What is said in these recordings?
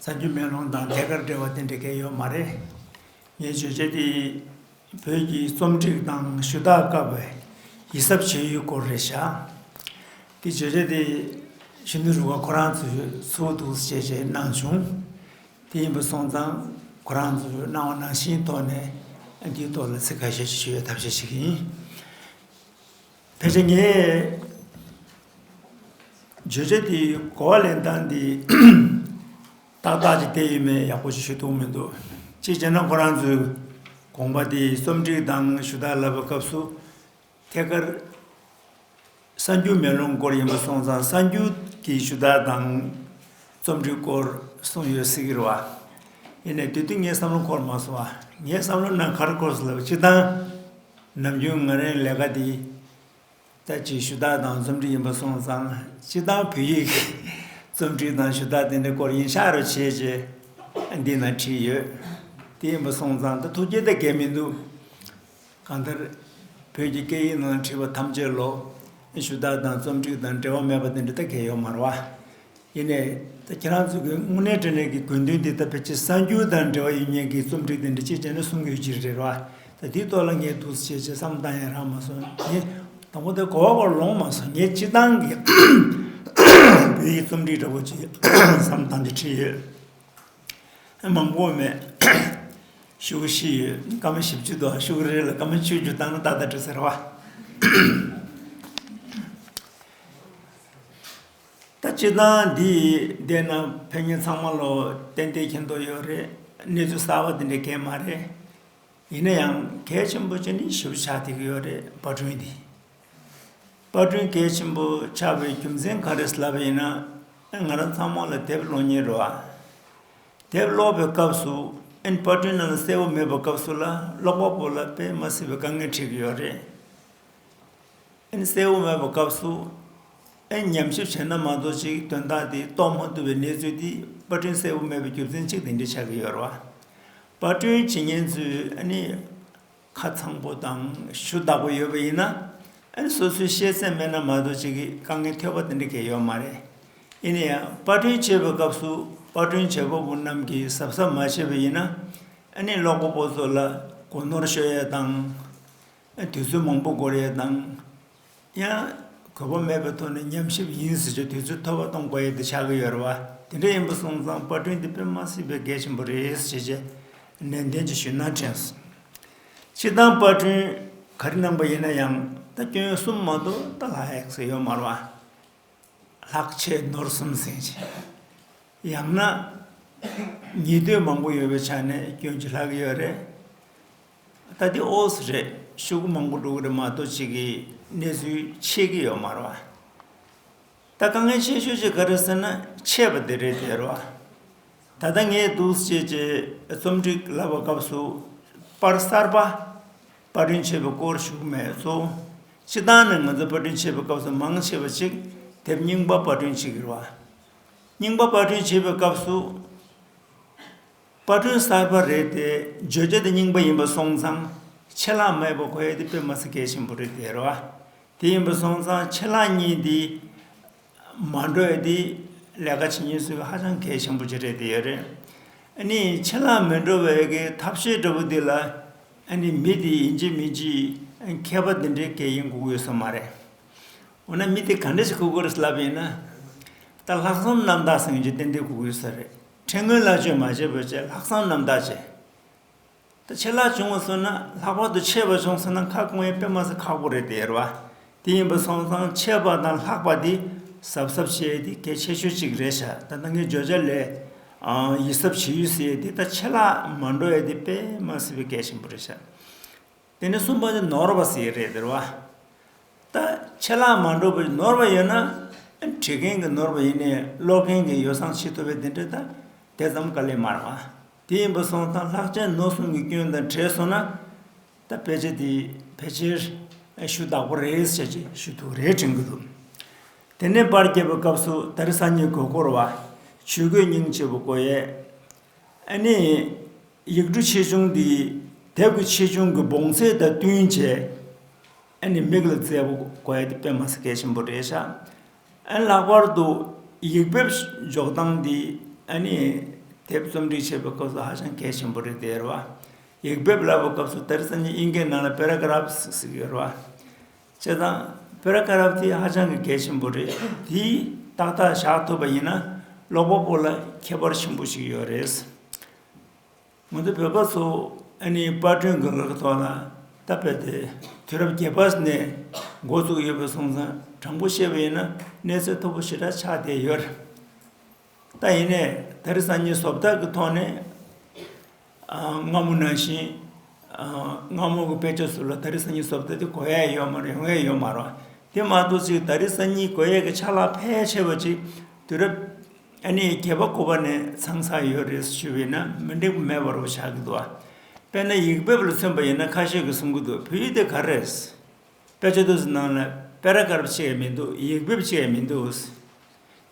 རྩ་རྒྱུད་མེ་ལོང་དང་ཐད་ཀར་འབྲེལ་བ་དེ་འདྲ་གལ་ཡོད་མ་རེད། ངའི་བརྗོད་བྱ་དེ་བོད་ཀྱི་རྩོམ་སྒྲིག་དང་ཞུ་དག་སྐབས་བའི་ཡིད་གཟབ་བྱེད་ཡུལ་སྐོར་རེ་བྱ། འདི་བརྗོད་བྱ་དེ་ཤིན་ཏུ་རུང་བ་ཁོ་རང་ཚོས་ཚུར་འདུག་བྱས་བྱས་གནང་བྱུང། དེ་ཡིན་པ་སོང་ཙང་ཁོ་རང་ཚོས་གནང་བ་ནང་བཞིན་ཐོག་ནས་འདིའི་ཐོག་ལ་ཚིག་ཁ་ཤས་ཤིག་ཞུ་བའི་ཐབས་ཤེས་བྱེད་ཀྱི་ཡིན། དེ་བཞིན་ངས་བརྗོད་བྱ་དེའི་གོ་བ་ལེན་སྟངས་འདི་ཏག་ཏག་ཅིག་བསྟན་ཡོད་མེད་ཡག་པོ་ཞིག་ཤོད་ཐུབ་མི་འདུག་ཅིག་བྱས་ན་ཁོ་རང་ཚོའི་དགོངས་པ་དེ་རྩོམ་སྒྲིག་དང་ཞུ་དག་ལབ་པའི་སྐབས་སུ་ཐད་ཀར་གསར་འགྱུར་མེ་ལོང་སྐོར་ཡིན་པ་སོང་ཙང་གསར་འགྱུར་གྱི་ཞུ་དག་དང་རྩོམ་འབྲིའི་སྐོར་གསུངས་ཡོད་ཟེར་གི་རེད་བ། ཡིན་ནའི་དུས་དེ་ངའི་བསམ་བློ་འཁོར་མ་སོང་བ། ངའི་བསམ་བློ་ནང་ཁར་འཁོར་སོང་ལབ་བྱེད་སྟངས། ནམ་རྒྱུན་ང་རང་ལས་ཀ་དེ། ལྟ་བྱེད་ཞུ་དག་དང་རྩོམ་འབྲི་ཡིན་པ་སོང་ཙང་སྤྱི་བཏང་བོད་ཡིག་གི་རྩོམ་འབྲི་དང་ཞུ་དག་དེ་འདྲའི་སྐོར་ཡིན་ཤག་རོ་བྱེད་ཅེས་འདི་ན་བྲིས་ཡོད། དེ་ཡིན་པ་སོང་ཙང་ད་ཐུགས་སྐྱེད་ད་གས་མི་འདུག། གང་ལྟར། བོད་ཀྱི་སྐད་ཡིག་ནང་བྲིས་པ་ཐམས་ཅད་ལོགས། ཞུ་དག་དང་རྩོམ་སྒྲིག་དང་འབྲེལ་བ་མེད་པ་དེ་འདྲ་ད་གལ་ཡོད་མ་རེད་བ། ཡིན་ནས། ད་ཁྱེད་རང་ཚོ་གི་དངོས་གནས་དྲན་ལས་ཀྱི་དགོས་འདུན་དེ་ད་ཕལ་ཆེར་གསར་འགྱུར་དང་འབྲེལ་བ་ཡོད་ཉེས་ཀྱི་རྩོམ་སྒྲིག་དེ་འདྲ་ཅིག་བྱས་ན་གསུང་གི་ཡོད་ཅི་རེད་བ། ད་དེའི་ཐོག་ལ་ངས་འདུག་ཅེས་ཅེས་བསམ་བཏང་ཡང་རག་མ་སོང། ངས། དང་པོ་ད་གོ་བ་བོར་ལོང་མ་སོང་ངས་སྤྱི་བཏང་གི་བོད་ཡིག་རྩོམ་སྒྲིག་འདྲ་པོ་ཅིག་བསམ་བཏང་སྟེ་བྲིས་ཡོད། མང་པོ་མེད། ཤུགས་བཞི་ཡོད་སྐར་མ་བཞི་བཅུ་དང་ཤུགས་རེ་རེ་ལ་སྐར་མ་བཅུ་བཅུ་བཏང་ན་ཏག་ཏག་འགྲོ་ཟེར་བ། ད་སྤྱི་དང་འདི་ཡིས་བསྡད་ན་ཕན་ངན་ཚང་མ་ལོ་ཏན་ཏན་གྱིན་དོགས་ཡོད་རེད་གནས་ཚུལ་གསར་བ་འདི་འདྲ་གས་མ་རེད། ཡིན་ན་ཡང་གས་ཆེན་པོ་ཅི་ནི་ཞིབ་ཕྲ་ཆགས་ཐིག་ཡོད་རེད་བ་དྲུང་འདི། པར་སྐྲུན་གལ་ཆེན་པོ་ཆགས་པའི་རྒྱུ་མཚན་ག་རེ་ལབ་པ་ཡིན་ན། ང་རང་ཚང་མ་ལ་དེབ་ཀློག་ཉེན་རེད། དེབ་ཀློག་པའི་སྐབས་སུ་ཨན་པར་སྐྲུན་ནང་ལ་གསལ་བོ་མེད་པ་སྐབས་སུ་ལ་ཀློག་པ་པོ་ལ་དཔེ་མ་སྲིད་པའི་དཀའ་ངལ་འཕྲད་ཀྱི་ཡོད་རེད། ཨན་གསལ་བོ་མེད་པ་སྐབས་སུ་ཨན་ཉམས་ཞིབ་བྱས་ན་མ་གཏོགས་ཅིག་དོན་དག་དེ་རྟོགས་མ་ཐུབ་པའི་གནས་ཚུལ་འདི་པར་སྐྲུན་གསལ་བོ་མེད་པའི་རྒྱུ་མཚན་གཅིག་དེ་འདྲ་ཆགས་ཀྱི་ཡོད་རེད། པར་སྐྲུན་བྱེད་ཉེན་ཚུལ་ཨ་ནི། ཁ་ཚང་པོ་དང་ཞུ་དག་པོ་ཡོད་པ་ཡིན་ན་ཨན་སོ་སོའི་ཤེས་ཚད་མེད་ན་མ་གཏོགས་ཅིག་གིས་དཀའ་ངལ་ཐེབས་པ་དེ་འདྲ་གས་ཡོད་མ་རེད། ཡིན་ན་ཡང་པར་སྐྲུན་བྱེད་པའི་སྐབས་སུ་པར་སྐྲུན་བྱེད་པ་པོ་རྣམས་ཀྱིས་གཟབ་གཟབ་མ་བྱས་པ་ཡིན་ན་ཨན་ནི་ཀློག་པ་པོ་ཚོ་ལ་གོ་ནོར་ཤོར་ཡས་དང། དུས་ཚོད་མང་པོ་འགོར་ཡས་དང། ཡང། གོ་བ་མེད་པའི་ཐོག་ནས་ཉམས་ཞིབ་ཡིན་ཟེར་གྱི་དུས་ཚོད་མཐོ་བ་གཏོང་དགོས་ཡས་དེ་ཆགས་ཀྱི་ཡོད་རེད་བ། དེ་འདྲ་ཡིན་པ་སོང་ཙང་པར་སྐྲུན་འདི་དཔེ་མ་སྲིད་པའི་གལ་ཆེན་པོ་རེད་ཞེས་བྱས་རྗེས་ནན་ཏན་གྱིས་ཞུས་ན་དྲན་སོང། སྤྱིར་བཏང་པར་སྐྲུན་ག་རེ་གནང་པ་ཡིན་ན་ཡང་ད་སྐྱོན་གསུམ་མ་གཏོགས་ད་ལྷག་ཡག་ས་ཡོད་མ་རེད་བ། ལྷག་ཆད་ནོར་གསུམ་ཟིན་ཅིང། ཡང་ན། ཉེས་དོན་མང་པོ་ཡོད་པའི་ཆ་ནས་སྐྱོན་གྱིས་ལྷག་གི་ཡོད་རེད། ད་ལྟའི་ཨོ་སི་རེད་ཤོད་གི་མང་པོ་འགྲོ་གི་རེད་མ་གཏོགས་ཅིག་གི་གནས་ཚུལ་ཆད་ཀྱི་ཡོད་མར་བ། ད་དཀའ་ངལ་ཆེ་ཤོས་ཅིག་ག་རེད་ཟེར་ན་ཆད་པ་དེ་རེད་ཟེར་བ། ད་ལྟ་ངས་གདུགས་བྱེད་ཀྱི་རྩོམ་སྒྲིག་བསླབ་པ་སྐབས་སུ་པར་གསར་པ་པར་སྐྲུན་བྱེད་པའི་སྐོར་ཞུགས་མེད་ཚོ། སྤྱི་བཏང་ནས་ང་ཚོ་པར་སྐྲུན་བྱེད་པའི་སྐབས་སུ་མང་ཆེ་བ་ཅིག་དེབ་རྙིང་པ་པར་སྐྲུན་བྱེད་ཀྱི་རེད་བ། རྙིང་པ་པར་སྐྲུན་བྱེད་པའི་སྐབས་སུ། དཔར་སྐྲུན་གསར་པ་རེད་དེ་བརྗོད་བྱ་དེ་རྙིང་པ་ཡིན་པ་སོང་ཙང་ཕྱེད་ལྷག་མེད་པ་གོ་ཡ་དེ་དཔེ་མ་ཚད་གལ་ཆེན་པོ་རེད་དེ་རེད་བ། དེ་ཡིན་པ་སོང་ཙང་ཕྱེད་ལྷག་གཉིས་དེ་མ་འགྲོ་ཡ་དེ་ལས་ཀ་བྱེད་ཉེན་སྲུང་ཧ་ཅང་གལ་ཆེན་པོ་ཅིག་རེད་དེ་ཡོད་རེད། ནི་ཕྱེད་ལྷག་མི་འགྲོ་བའི་གི་ཐབས་ཤེས་འདྲ་བོ་དེ་ལ་ནི་མི་དེ་ཡིན་གྱི་མིན་གྱི་མཁས་པ་དེ་འདྲའི་གལ་ཡིན་གུག་ཡོད་ས་མ་རེད། འོ་ན་མི་དེ་ག་འདྲ་ཞིག་གུག་གི་རེད་ལབ་ཡིན་ན། ད་ལྷག་བསམ་རྣམ་དག་སེང་གཅིག་ཏན་ཏན་གུག་ཡོད་ས་རེད། ཕྲན་སྔོན་ལག་བཅོས་མ་བྱས་བོད་ཆས་ལྷག་བསམ་རྣམ་དག་བྱས། ད་ཆད་ལག་བྱུང་བ་སོང་ན་ལྷག་པར་དུ་ཆད་པ་བྱུང་སོང་ན་ཁ་སྐོང་ཡས་པས་མ་ཟ་ཁག་པོ་རེད་དེ་ཡར་བ་དེ་ཡིན་པ་སོང་ཙང་ཆད་པ་དང་ལྷག་པ་དེ་གཟབ་གཟབ་བྱས་ཡས་དེ་གལ་ཆེ་ཤོས་གཅིག་རེད་ཤག་ད་ནང་གི་བརྗོད་བྱ་ལས་ཨང་ཡིད་གཟབ་བྱེད་ཡུལ་ཟེར་ཡས་དེ་ད་ཆད་ལག་མ་འགྲོ་ཡས་དེ་པས་མ་ཟེར་བའི་གལ་ཆེན་པོ་རེད་ཤག། དེ་ནས་གསུམ་པ་ནི་ནོར་བ་ཟེར་རེད་ཟེར་བ། ད་ཆད་ལ་མ་འགྲོ་བའི་ནོར་བ་ཡོད་ན། བྲིས་མཁན་གྱི་ནོར་བ་ཡིན་ནས་ཀློག་མཁན་གྱི་ཡོ་བསྲང་བྱེད་ཐུབ་པའི་དེ་འདྲའི་ད་དེ་ཙམ་དཀའ་ལས་མ་རེད་བ། དེ་ཡིན་པ་སོང་ཙང་ལྷག་བཅས་ནོར་གསུམ་གྱི་སྐྱོན་དང་བྲལ་སོང་ན། ད་ཕལ་ཆེར་དེ་ཕལ་ཆེར་ཞུ་དག་པོ་རེད་བྱས་རྗེས་ཞུ་དུ་རེད་དྲན་གྱི་འདུག། དེ་ནས་པར་བརྒྱབ་པའི་སྐབས་སུ་ད་རི་སང་ཉིན་གོས་བསྐོར་བ། ཆོས་གོས་རྙིང་ཆེ་བོ་བསྐོར་ཡས། ཨ་ནི། ཡིག་འབྲུ་ཆེ་ཆུང་དེ་དལ་གྱི་ཆེ་ཆུང་གི་བོངས་ཚད་དང་བསྟུན་བྱས་ཨེ་ནི་མིག་ལ་མཛེས་པོ་དགོས་ཡས་དེ་དཔེ་མ་ཟད་གལ་ཆེན་པོ་རེད་ཤག་ཨན་ལྷག་པར་དུ་ཡིག་འབེབས་འཇོག་སྟངས་དེ་ཨ་ནི་དེབ་རྩོམ་སྒྲིག་བྱེད་པའི་སྐབས་སུ་ཧ་ཅང་གལ་ཆེན་པོ་རེད་དེ་རེད་བ་ཡིག་འབེབས་བསླབ་པའི་སྐབས་སུ་དེར་སང་ཉིན་དབྱིན་སྐད་ནང་ལ་པེ་ར་ཀ་ར་བྷ་ཟིག་ཟིག་ཡོད་རེད་བ་བྱས་ཙང་པེ་ར་ཀ་ར་བྷ་དེ་ཧ་ཅང་གི་གལ་ཆེན་པོ་རེད་དེ་ཏག་ཏག་བཞག་ཐུབ་པ་ཡིན་ན་ཀློག་པ་པོ་ལ་ཁྱད་པར་ཆེན་པོ་ཞིག་ཡོད་རེད་ངོ་ཚ་བོད་པ་ཚོ་ཨ་ནེའི་དཔར་སྐྲུན་དགོས་མཁོའི་ཐོག་ལ་ད་བལ་དེ་དུས་རབས་བརྒྱད་པ་ནས་འགོ་བཙུགས་ཡོད་པའི་གསུང་མཚམས་དྲང་པོ་བཤད་པ་ཡིན་ན་གནས་ཚུལ་ཐོར་བུ་ཞེ་དྲག་ཆགས་བསྡད་ཡོད་རེད། ད་ཡིན་ནས་དེར་གསར་རྙིང་ཟོབ་དག་གི་ཐོག་ནས་སྔ་མོ་ནང་བཞིན་སྔ་མོ་གི་དཔེ་ཆ་ཚུར་ལ་ད་རེས་གསར་རྙིང་ཟོབ་དག་དེ་གོ་ཡ་ཡོད་མ་རེད་ཡོང་ཡ་ཡོད་མ་རེད་དེ་མ་གཏོགས་ཅིག་ད་རེས་གསར་རྙིང་གོ་ཡ་གི་ཆ་ལག་ཕལ་ཆེ་བ་ཅིག་དུས་རབས། ཨ་ནི་རྒྱལ་བ་སྐུ་པར་ནས་ཚང་ས་ཡོད་རེད་ཞུས་བས་ན་མི་འགྲིག་མེད་པར་བྱ་གི་འདུག་དཔེར་ན་ཡིག་འབེབས་ལ་མཚོན་པ་ཡིན་ན་ཁ་ཤས་ཀྱིས་གསུང་གི་འདུག་བོད་ཡིག་དེ་ག་རེད། དཔེ་ཆ་དེ་ཚོ་ནང་ལ་དཔེ་ར་དཀར་བ་ཅིག་ཡང་མི་འདུག་ཡིག་འབེབས་ཅིག་ཡང་མི་འདུག།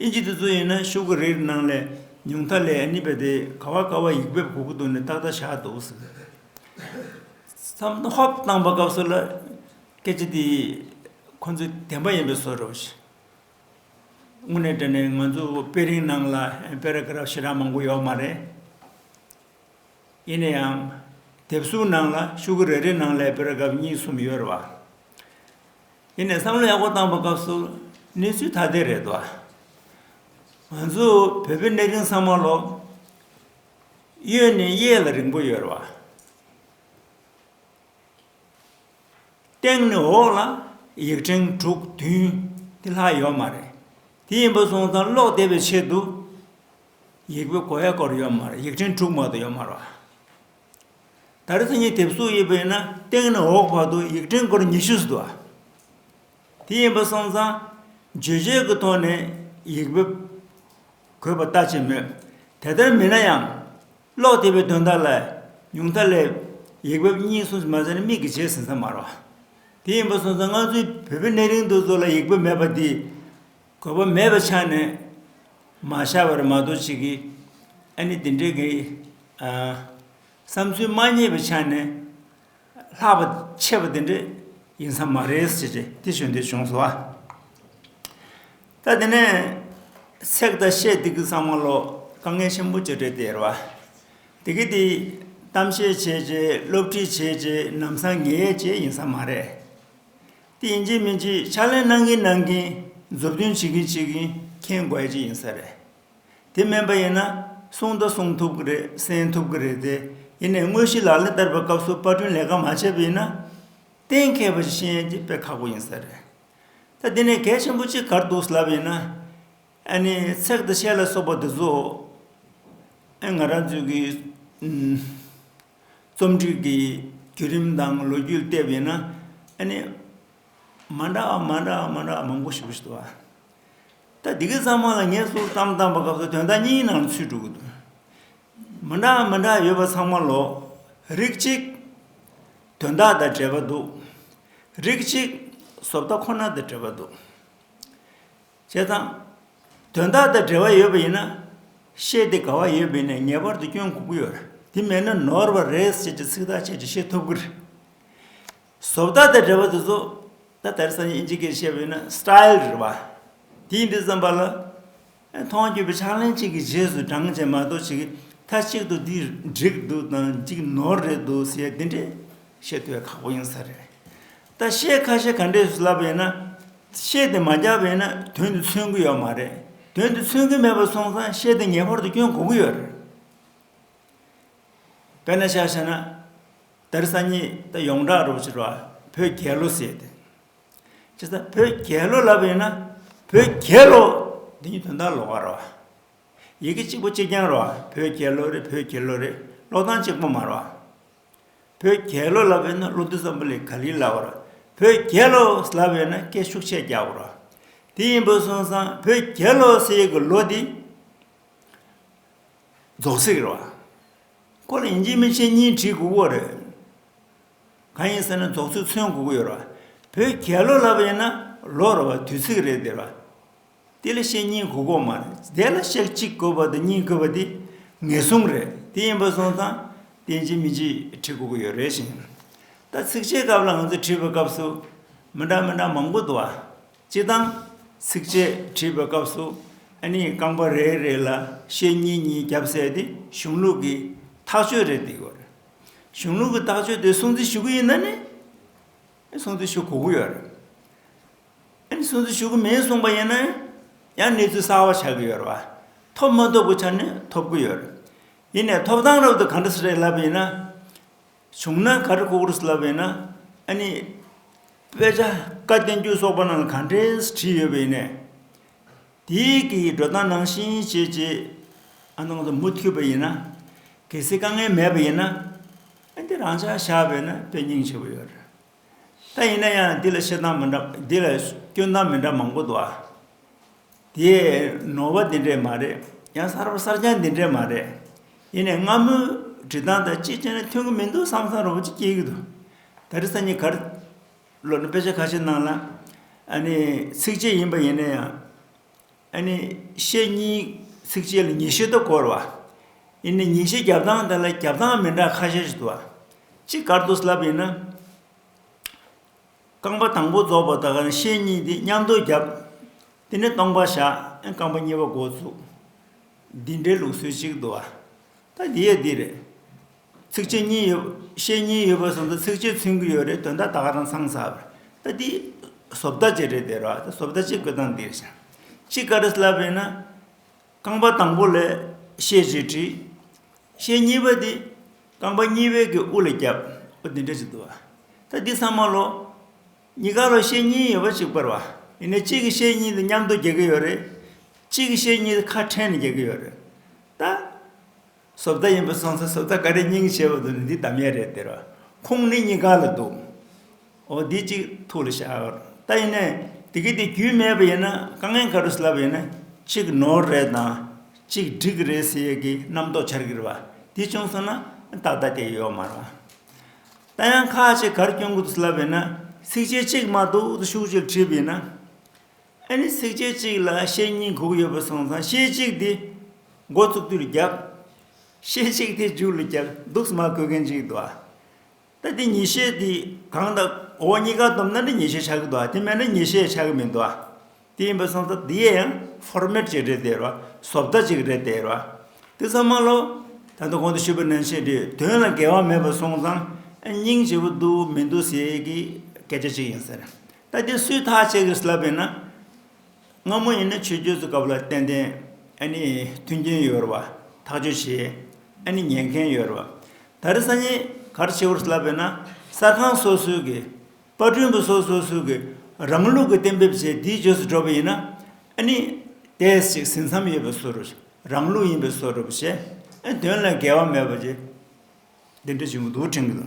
ཨིན་ཇི་དེ་ཚོ་ཡིན་ན་ཤུག་གི་རིགས་ནང་ལས་ཉུང་མཐའ་ལས་ཨ་ནི་པ་དེ་ག་བ་ག་བ་ཡིག་འབེབས་གོ་གི་འདུག་ནས་ཏག་ཏག་བཞག་འདུག། བསམ་བློ་ཧོབ་བཏང་བ་སྐབས་སུ་ལ་སྐད་ཆ་དེ་ཁོ་ཚོའི་བདེན་པ་ཡིན་པའི་བཟོ་རུ། དངོས་གནས་དྲན་ནས་ང་ཚོ་དཔེ་རིང་ནང་ལ Paragraph ཞེ་དྲག་མང་པོ་ཡོད་མ་རེད། ཡིན་ན་ཡང་དེབ་གཟུགས་ནང་ལ་ཤུག་གུ་རེ་རེ་ནང་ལས Paragraph གཉིས་གསུམ་ཡོད་རེད་བ། ཡིན་ནས་བསམ་བློ་ཡག་པོ་བཏང་པ་སྐབས་སུ་གནས་ཚུལ་ཐ་དད་རེད་བ། ང་ཚོ་བོད་པའི་གནས་རིང་ཚང་མ་ལོ་གཡོན་ནས་གཡས་ལ་རིང་པོ་ཡོད་རེད་བ། སྟེང་ནས་འོག་ལ་ཡིག་ཕྲེང་དྲུག་བདུན་དེ་ལྷག་ཡོད་མ་རེད། དེ་ཡིན་པ་སོང་ཙང་ཀློག་བདེ་བའི་ཆེད་དུ་ཡིག་པའི་གོ་ཡ་སྐོར་ཡོད་མ་རེད་ཡིག་ཕྲེང་དྲུག་མ་གཏོགས་ཡོད་མ་རེད། ད་རེས་གཉིས་དེབ་གསོག་ཡོད་པ་ཡིན་ན་སྟེང་ནས་འོག་བར་དུ་ཡིག་ཕྲེང་སྐོར་ཉི་ཤུ་ཟིན་འདུག་དེ་ཡིན་པ་སོང་ཙང་བརྗོད་བྱའི་གི་ཐོག་ནས་ཡིག་པའི་གོ་བ་ལྟ་ཅི་མོད་དེ་ལྟར་མིན་ན་ཡང། ཀློག་བདེ་བའི་དོན་དག་ལ་ཉུང་མཐའ་སླེབས། ཡིག་བབ་གཉིས་གསུམ་ཟིན་མ་ཟིན་ནི་མིག་གི་རྗེས་ཟིན་ས་མ་རོགས། དེ་ཡིན་པ་སོང་ཙང་ང་ཚོའི་བོད་པའི་གནས་རིང་དུ་ཚོ་ལ་ཡིག་བབ་མེད་པ་འདིས། གོ་བ་མེད་པ་ཆགས་ནས་མ་བཞག་པར་མ་གཏོགས་ཅི་གི། ཨ་ནི་འདི་འདྲའི་གི། བསམ་ཚུལ་མ་རྙེད་པའི་ཆ་ནས། ལྷག་པ་ཆེ་བ་དེ་འདྲ་ཡིན་ས་མ་རེད་ཟེར་བྱས་དེ་བྱུང་དེ་བྱུང་ཟེར་བ། ད་དེ་ནས་སྲེག་ད་བཤད་དེ་གི་ས་མ་ལོ་དཀའ་ངལ་ཆེན་པོ་བྱས་བྲལ་དེར་བ། དེ་གི་དེ་གཏམ་བཤད་བྱས་བྱས་སློབ་ཁྲིད་བྱས་བྱས་ནམ་སང་ངེས་ཡས་བྱས་ཡིན་ས་མ་རེད། དེ་ཡིན་གྱི་མིན་གྱི་ཕྱག་ལེན་གནང་གིན་གནང་གིན་མཛུབ་སྟོན་བྱེད་གིན་བྱེད་གིན་མཁྱེན་དགོས་ཀྱི་ཡིན་ས་རེད། དེ་མིན་པ་ཡིན་ན་གསུང་དང་གསུང་ཐུབ་ཀྱི་རེད་གསན་ཐུབ་ཀྱི་རེད་དེ་ཡིན་ནས་དངོས་གཞི་ལག་ལེན་བསྟར་བའི་སྐབས་སུ་པར་སྐྲུན་ལས་ཀ་མ་བྱས་པ་ཡིན་ན། གཏན་མཁས་པ་ཞིག་ཤེས་ཡོན་གྱི་དཔེ་ཁག་པོ་ཡིན་ས་རེད། ད་འདི་ནས་གལ་ཆེན་པོ་གཅིག་གར་འདུག་ལབ་ཡིན་ན། ཨ་ནི་ཚེག་དང་ཤད་ལ་སོགས་པ་འདི་ཚོ། ཨེ་ང་རང་ཚོའི་གི། རྩོམ་སྒྲིག་གི་བརྒྱུད་རིམ་དང་ལོ་རྒྱུས་བལྟས་པ་ཡིན་ན། ཨ་ནི། མ་འདྲ་བ་མ་འདྲ་བ་མ་འདྲ་བ་མང་པོ་ཞིག་འདུག་ཟེར་བ། ད་འདི་གའི་གཙང་མ་ལ་ངས་སོགས་བརྩམས་བརྩམས་པ་སྐབས་སུ་དོན་དག་གཉིས་ནང་ལ་ཚུད་འགྲོ་གི་འདུག། མི་འདྲ་མི་འདྲ་ཡོད་པ་ཚང་མ་ལོག་རིགས་གཅིག། དོན་དག་དང་འབྲེལ་བ་འདུག་རིགས་གཅིག། བཟོ་ལྟ་ཁོ་ན་དང་འབྲེལ་བ་འདུག་བྱས་ཙང། དོན་དག་དང་འབྲེལ་བ་ཡོད་པ་ཡིན་ན། བཤད་དེ་ག་བ་ཡོད་མིན་ནས་ངེས་པར་དུ་སྐྱོན་འགོག་གི་ཡོད་རེད་དེ་མེད་ན་ནོར་བ་རེད་ཟེར་གྱི་ཚིག་ཐག་ཆད་ཀྱི་བཤད་ཐུབ་ཀི་རེད། བཟོ་ལྟ་དང་འབྲེལ་བ་དུ་བཟོ་ལྟ་དར་ས་ནས་ཨིན་ཇི་ཀེར་བཤད་པའི་ན Style རེད་བ། དེའི་འདི་བརྩམས་པ་ལ། མཐོང་བརྒྱུད་པའི་ཕྱག་ལེན་གཅིག་གི་རྗེས་སུ་འབྲང་བྱེད་མ་གཏོགས་ཆེ་གེ་ཐ་གཅིག་ཏུ་འདི་འགྲིག་འདུག་དང་འདི་ནོར་རེད་འདུག་ཟེར་འདི་འདྲའི་བཤད་ཐུབ་ཡ་ཁག་པོ་ཡིན་ས་རེད། ད་བཤད་ཁ་ཤས་ག་འདྲས་སུ་ལབ་པའི་ན། བཤད་དེ་མ་རྒྱག་པའི་ན་དོན་དེ་མཚོན་གི་ཡོད་མ་རེད། དོན་དེ་མཚོན་གི་མེད་པ་སོང་ཙང་བཤད་དེ་ངེས་པར་དུ་སྐྱོན་གོ་གི་ཡོད་རེད། དཔེར་ན་བཤད་བྱས་ན། དེར་སང་ཉིད་ད་ཡོངས་གྲགས་རོགས་ཕྱིར་བ་བོད་རྒྱལ་ལོ་ཟེར་ཏེ། ཇི་ལྟར་བོད་རྒྱལ་ལོ་ལབ་པ་ཡིན་ན་བོད་རྒྱལ་ལོ་འདི་ཉིད་དོན་དག་ལོག་ག་རོ། ཡི་གེ་གཅིག་པོ་གཅིག་རྐྱང་རོ་བོད་རྒྱལ་ལོ་རེད་བོད་རྒྱལ་ལོ་རེད་ཀློག་སྟངས་གཅིག་པོ་མ་རོ། བོད་རྒྱལ་ལོ་ལབ་པ་ཡིན་ན་ཀླུ་བདུད་ཙམ་པོ་ལས་ག་ལིར་ལབ་བ་རོ། བོད་རྒྱལ་ལོ་ལབ་པ་ཡིན་ན་སྐད་ཤུགས་ཆེ་རྒྱག་པོ་རོ། དེ་ཡིན་པོ་སོང་སང་བོད་རྒྱལ་ལོ་ཟེར་ཡི་གི་ལོ་འདི་རྫོགས་ཚིག་རོ། ཁོ་ལ་ཡིན་གཅིག་མིན་གཅིག་གཉིས་བྲིས་དགོས་པོ་རེད། གང་ཡིན་ཟེར་ན་རྫོགས་ཚུལ་མཚོན་དགོས་ཀྱི་ཡོད་རེད། བོད་རྒྱལ་ལོ་ལབ་པ་ཡིན་ན་ལོ་རེ་བ་དུས་ཚིགས་རེད་དེ། དེ་ལ་གཤེགས་གཉིས་དགོས་དགོས་མ་རེད། དེ་ལ་གཤེགས་གཅིག་དགོས་པ་དང་གཉིས་དགོས་པ་དེ་ངེས་གཟུང་རེད། དེ་ཡིན་པ་སོང་ཙང་དེ་གཅིག་མིན་གཅིག་བྲིས་དགོས་ཀྱི་ཡོད་རེད་བཞིན། ད་ཚིགས་བཅད་སྐབས་ལ་ང་ཚོ་བྲིས་པའི་སྐབས་སུ་མི་འདྲ་མི་འདྲ་མང་པོ་འདུག་ཨ། སྤྱི་དང། ཚིགས་བཅད་བྲིས་པའི་སྐབས་སུ་ཨ་ནི་རྐང་པ་རེ་རེ་ལ་ཤེལ་གཉིས་གཉིས་རྒྱབ་བསལ་ཏེ་གཞུང་ལུགས་ཀྱི་ཐག་གཅོད་རེ་འདེགས་ཡོད་རེད། གཞུང་ལུགས་ཀྱི་ཐག་གཅོད་དེ་སྲུང་བརྩི་ཞུ་གི་ཡིན་ན་ནི། སྲུང་བརྩི་ཞུ་གོ་གི་ཡོད་རེད། ཨ་ནི་སྲུང་བརྩི་ཞུ་གི་མིན་གསུངས་པ་ཡིན་ན། ཡང་གནས་ཚུལ་གསར་བ་ཆགས་ཀྱི་ཡོད་རེད་བ། ཐོབ་མ་ཐོབ་ཀྱི་ཆ་ནས་ཐོབ་ཀྱི་ཡོད་རེད། ཡིན་ནས་ཐོབ་ཐང་རབ་ཏུ་ག་འདྲ་ཞིག་རེད་ལབ་པ་ཡིན་ན། བྱུང་ན་གར་ལྐོག་རུས་བསླབ་པའི་ན་ཨ་ནི། དཔེ་ཆ་བཀའ་བསྟན་རྒྱུད་སོགས་པ་རྣམས་ལ་ག་འདྲས་བྲིས་ཡོད་པའི་ནས། དེ་གི་འགྲོ་སྟངས་ནང་བཞིན་བྱེད་ཅེས་ཨ་ནང་དུ་མུ་འཐུད་པ་ཡིན་ན། གལ་སྲིད་དཀའ་ངལ་མེད་པ་ཡིན་ན། ཨ་འདི་རང་ཅག་བཞག་པས་ན་དཔེ་རྙིང་ཆེ་བོ་ཡོད་རེད། ད་ཡིན་ན་ཡང་འདི་ལ་བཤད་སྟངས་མི་འདྲ། འདི་ལ་སྐྱོན་སྟངས་མི་འདྲ་མང་པོ་འདུག་ཨ། དེ་ནོར་བ་འདི་འདྲས་མ་རེད། ཡང་གསར་པ་གསར་རྐྱང་འདི་འདྲས་མ་རེད། ཡིན་ནས་སྔ་མོའི་བྲིས་སྟངས་དང་ཅིག་ཅར་ནས་མཐུན་གྱི་མི་འདུག་བསམ་བསམ་རུང་ཅིག་སྐྱེས་ཀྱི་འདུག། ད་རེས་སང་ཉིན་གར་ལོག་ནས་དཔེ་ཆ་ཁ་ཤས་གནང་ལ། ཨ་ནི་ཚིགས་བཅད་ཡིན་པ་ཡིན་ན་ཡང། ཨ་ནི་ཤེས་གཉིས་ཚིགས་བཅད་ལ་ཉིན་ཤས་དུ་བསྐོར་བ། ཨི་ནི་ཉིན་ཤས་རྒྱབ་གདངས་དེ་ལ་རྒྱབ་གདངས་མི་འདྲ་ཁ་ཤས་ཤིག་དུ་བ། ཅི་དགར་དུ་བསླབ་ཡིན་ན། རྐང་པ་དང་པོ་རྫོགས་པ་དག་ནི་ཤས་གཉིས་དེ་མཉམ་དུ་རྒྱབ། དེ་ནས་སྟོང་པ་བཞག་རྐང་པ་གཉིས་པ་འགོ་བཙུགས། འདི་འདྲའི་ལུགས་སྲོལ་གཅིག་དུ་བ། ད་འདི་ཡ་འདི་རེད། ཚིགས་བཅད་གཉིས་ཡོད། བཤད་གཉིས་ཡོད་པ་སོང་ཙང་ཚིགས་བཅད་མཚོན་གྱི་ཡོད་རེད་དོན་དག་དག་རང་ཚང་ཟབ་རེད་ད་འདི་ཟོབ་ད་ཅིག་རེད་དེར་བ་ད་ཟོབ་ད་ཅིག་དགོས་སྟངས་འདིར་ཤར། གཅིག་ག་རེས་ལབ་རེད་ན། རྐང་པ་དང་པོ་ལས་བཤད་ཅེས་བྲིས། བཤད་གཉིས་པ་འདི་རྐང་པ་གཉིས་པའི་གི་དབུ་ལ་བརྒྱབ་འོ་འདི་འདྲ་ཅིག་འདུག་བ་ད་འདི་ཚང་མ་ལོག། གཉིས་ཀ་ལ་བཤད་གཉིས་ཡོད་པ་གཅིག་པར་བ་ཡིན་ནའི་གཅིག་གི་བཤད་གཉིས་དེ་མཉམ་དུ་རྒྱག་གི་ཡོད་རེད། གཅིག་གི་བཤད་གཉིས་དེ་ཁ་ཕྲལ་ནས་རྒྱག་གི་ཡོད་རེད། ད། སོ་བདག་ཡིན་པར་སོང་ཚེ་སོ་བདག་ག་རེ་སྙིང་ཞེས་པ་དང་འདི་དམ་ཡེ་རེད་ཟེར་བ། ཁོང་ནི་གཉིས་ཀ་ལ་འདུག། འོ་འདི་གཅིག་ཐུགས་ལ་བཞག། ད་ཡིན་ནའི་དེ་གི་དེ་རྒྱུས་མེད་པ་ཡིན་ན་དཀའ་ངལ་ག་རུ་སླ་བ་ཡིན་ན་གཅིག་ནོར་རེད་དང་གཅིག་སྒྲིག་རེད་ཟེར་ཡས་ཀི་རྣམ་རྟོག་འཆར་གི་རེད་བ། དེ་བྱུང་སོང་ན་ཏག་ཏག་དེ་ཡོད་མ་རང། ད་ཡང་ཁ་ཅིག་གར་སྐྱོང་གི་འདུག་སླ་བ་ཡིན་ན་ཚིགས་བཅད་གཅིག་མ་གཏོགས་ཤུགས་ཆེར་བྲིས་པ་ཡིན་ན། ཨ་ནི་ཚིགས་བཅད་གཅིག་ལ་ཤེལ་གཉིས་གུག་ཡོད་པར་སོང་ཙང་ཤེལ་གཅིག་དེ་མགོ་བཙུགས་དུས་ལ་རྒྱབ། ཤེལ་གཅིག་དེ་མཇུག་ལ་རྒྱབ་འདུག་སྨྲ་དགོས་མཁན་ཅིག་འདུག་ཨ། ད་དེ་ཉིས་ཤེལ་དེ་གང་དང་འོག་གཉིས་ཀ་བསྡོམས་ན་འདི་ཉིས་ཤེལ་ཆགས་ཀྱི་འདུག་ཨ་དེ་མེད་ན་ཉིས་ཤེལ་ཆགས་ཀྱི་མི་འདུག་ཨ། དེ་ཡིན་པར་སོང་ཙང་དེ་ཡང Format ཅིག་རེད་དེ་རོ་བཟོ་ལྟ་ཅིག་རེད་དེ་རོ་ཨ། དེ་ཚང་མ་ལོ། ད་ལྟ་གོང་དུ་ཞུས་པ་ནང་བཞིན་དེ་དོན་ལ་འགལ་བ་མེད་པར་སོང་ཙང་སྙིང་རྗེ་བོ་འདུག་མི་འདུག་ཟེར་གྱི་སྐད་ཆ་ཅིག་ཡིན་ཟེར། ད་ལྟའི་སུས་ཐག་བཅད་དགོས་ལབ་པས་ན། སྔ་མོ་ཡིན་ན་ཆོས་བརྒྱུད་ཚོ་སྐབས་ལ་ཏན་ཏན་ཨ་ནི་མཐུན་རྐྱེན་ཡོད་རུང་བ་ཐག་གཅོད་བྱས་ཨ་ནི་ཉན་མཁན་ཡོད་རུང་བ་ད་རེས་སང་ཉིན་གར་བྱེད་དགོས་ལབ་པས་ན་གསར་ཁང་སོ་སོའི་གི་པར་སྐྲུན་པ་སོ་སོ་སོའི་གི་རང་ལུགས་གི་གཏན་འབེབས་བྱས་དེའི་རྗོད་སུ་འགྲོ་བ་ཡིན་ན་ཨ་ནི་དེས་ཅིག་ཟིན་མཚམས་ཡོད་པའི་སོ་རུ་རང་ལུགས་ཡིན་པའི་སོ་རུ་བྱས་ཨ་ནི་དོན་ལ་འགལ་བ་མེད་པ་བྱས་འདི་འདྲ་བྱུང་འདུག་ཁྲིམས་ཀྱི།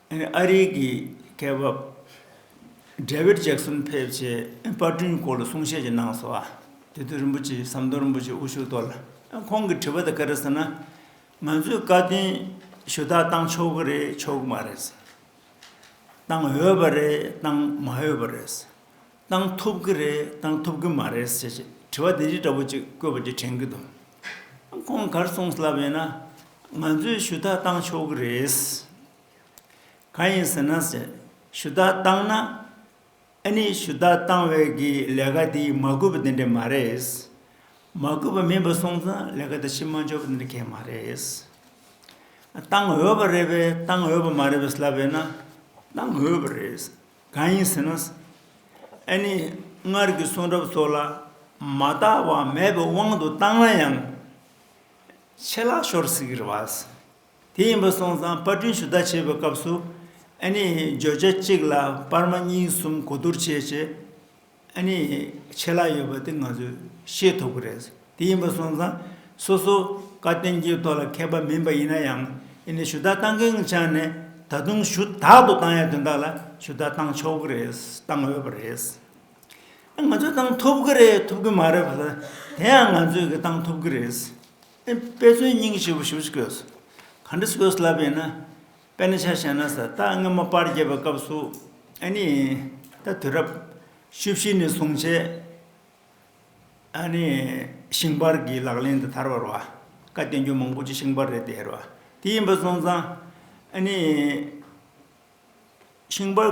ཨ་རིའི་གི་སྐད་བབ། འབྲེ་བིར་ཇེག་སུན་ཕེབས་ཆེ་ཨེ་པར་སྐྲུན་སྐོར་ལ་གསུང་བཤད་ཅིག་གནང་སོ་ཨ། དེ་དུས་རིན་པོ་ཆེ་ཟམ་གདོང་རིན་པོ་ཆེ་དབུ་ཞུགས་ཐོག་ལ་ཁོང་གི་དྲི་བ་དང་སྐད་ར་ཟེར་ན། ང་ཚོས་བཀའ་བསྟུན་ཞུ་དག་གཏང་ཆོག་གི་རེད་ཆོག་གི་མ་རེད། གཏང་འོས་པ་རེད་གཏང་མ་འོས་པ་རེད། བཏང་ཐུབ་ཀྱི་རེད་བཏང་ཐུབ་ཀྱི་མ་རེད་ཟེར་ཞེས་དྲི་བ་དེ་འདྲའི་འདྲ་པོ་གཅིག་བཀོད་པ་དེ་དྲན་གྱི་འདུག་ཁོང་གར་སོང་ལབ་ཡོད་ན། ང་ཚོས་ཞུ་དག་བཏང་ཆོག་གི་རེད། གང་ཡིན་ཟེར་ན་ཟེར་ཞུ་དག་བཏང་ན། ཨ་ནི་ཞུ་དག་བཏང་བས་ཀྱི་ལས་ཀ་དེ་མ་དགོས་པ་དེ་འདྲ་མ་རེད། མ་དགོས་པ་མིན་པ་སོང་ཙང་ལས་ཀ་དེ་ཕྱི་མ་འཇོག་པ་དེ་འདྲ་གལ་མ་རེད། བཏང་འོས་པ་རེད་པས་བཏང་འོས་པ་མ་རེད་པས་ལབ་ཡོད་ན། བཏང་འོས་པ་རེད། གང་ཡིན་ཟེར་ན། ཨ་ནི་སྔར་གྱི་གསུང་རབ་སོགས་ལ་མ་བརྟགས་པ་མེད་པའི་དབང་དུ་བཏང་ན་ཡང། ཆད་ལག་ཤོར་ཟིག་གི་རེད་བ། དེ་ཡིན་པ་སོང་ཙང་པར་སྐྲུན་ཞུ་དག་བྱེད་པའི་སྐབས་སུ། ཨ་ནི་བརྗོད་བྱ་གཅིག་ལ་པར་མ་གཉིས་གསུམ་གོ་བསྡུར་བྱས་བྱས། ཨ་ནི། ཆད་ལྷག་ཡོད་པ་དེ་ང་ཚོས་ཤེས་ཐུབ་ཀྱི་རེད། དེ་ཡིན་པ་སོང་ཙང། སོ་སོ་བཀའ་བསྟན་གྱི་ཐོག་ལ་མཁས་པ་མིན་པ་ཡིན་ན་ཡང། ཨི་ནི་ཞུ་དག་བཏང་མཁན་གྱི་ཆ་ནས་ད་དུང་ཞུ་དག་ཏུ་བཏང་ཡ་དེ་དག་ལ་ཞུ་དག་བཏང་ཆོག་གི་རེད། བཏང་འོས་པ་རེད། ཨ་ང་ཚོས་བཏང་ཐུབ་ཀྱི་རེད་ཐུབ་ཀྱི་མ་རེད་བ་ལ་དེ་ཡང་ང་ཚོས་ཀྱི་བཏང་ཐུབ་ཀྱི་རེད། ཨི་དཔེ་མཚོན་སྙིང་ཞེས་པ་ཞུ་ཅི་དགོས། ག་འདྲ་ཞུ་དགོས་ལབ་པ་ཡིན་ན། དཔེར་ན་ཆ་བཞག་ན་ས་རྟགས་སྔོན་མོ་པར་བརྒྱད་པའི་སྐབས་སུ་ཨཱ་ནི། ད་དུས་རབས་བཅུ་བཞི་ནས་བཟུང་བྱས། ཨཱ་ནི། ཤིང་པར་གྱི་ལག་ལེན་དུ་དར་བར་བ། བཀའ་བསྟན་རྒྱུད་མང་པོ་ཆེ་ཤིང་པར་རེད་དེ་ཧེར་བ། དེ་ཡིན་པ་སོང་ཙང། ཨཱ་ནི། ཤིང་པར།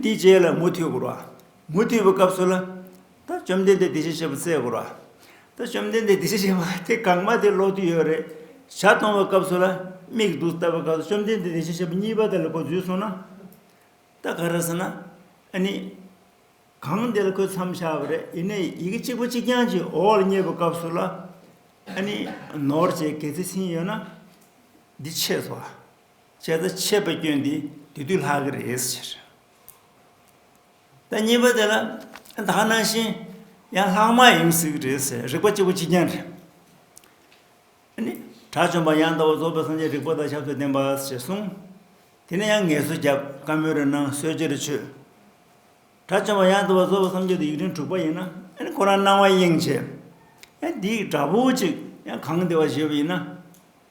འདི་རྗེས་ལ་མུ་མཐུད་བསྐུར་བ། མུ་མཐུད་པའི་སྐབས་སུ་ལ། ད་བཅོམ་ལྡན་འདས་འདི་བཞིན་གཤེགས་པའི་སྲས་བསྐུར་བ། ད་བཅོམ་ལྡན་འདས་འདི་བཞིན་གཤེགས་པ་དེ་གང་མ་དེ་ལོག་དུས་ཡོད་རེད། ཞག་སྟོང་བའི་སྐབས་སུ་ལ། མིག་བདུག་བལྟ་བའི་སྐབས་སུ་བཅོམ་ལྡན་འདས་འདི་བཞིན་གཤེགས་པ་གཉིས་པ་དེ་ལ་གོ་འཛུལ་སོང་ན། ད་ག་རེ་ཟེར་ན། ཨ་ནི། གང་འདི་ལ་ཁོས་མཚམས་བཞག་པ་རེད་ཡིན་ནའི་ཡི་གེ་གཅིག་པོ་གཅིག་རྐྱང་གཅིག་འོག་ལ་བསྙེས་པའི་སྐབས་སུ་ལ། ཨ་ནི། ནོར་བཅས་གལ་ཏེ་ཟིན་ཡོད་ན། འདི་ཆད་སོ། བྱས་ཙང་ཆད་པའི་སྐྱོན་དེ་དེ་དུས་ལྷག་གི་རེད་ཟེར། ད་གཉིས་པ་དེ་ལ་ད་ནང་བཞིན་ཡང་ལྷག་མ་ཡིན་ཟེར་གི་རེད་ཟེར་རིག་པ་གཅིག་པོ་གཅིག་རྐྱང་རེད། དེ་ནི་དྲག་བཅོམ་པ་ཡང་དག་པར་རྫོགས་པའི་སངས་རྒྱས་རིག་པ་དང་ཆབ་སྲོལ་ལྡན་པ་ཞེས་གསུངས། དེ་ནས་ཡང་ངལ་གསོ་རྒྱབ་བཀའ་མོལ་རེ་གནང་གསོལ་ཇེ་རེ་ཆོད། དྲག་བཅོམ་པ་ཡང་དག་པར་རྫོགས་པའི་སངས་རྒྱས་དེ་ཡིག་ཕྲེང་དྲུག་པ་ཡིན་ན་ཁོ་རང་སྣང་བ་དབྱིངས་ཆེ། ཡང་དེའི་འདྲ་པོ་གཅིག་ཡང་གང་བདེ་བ་བཞེས་པ་ཡིན་ན།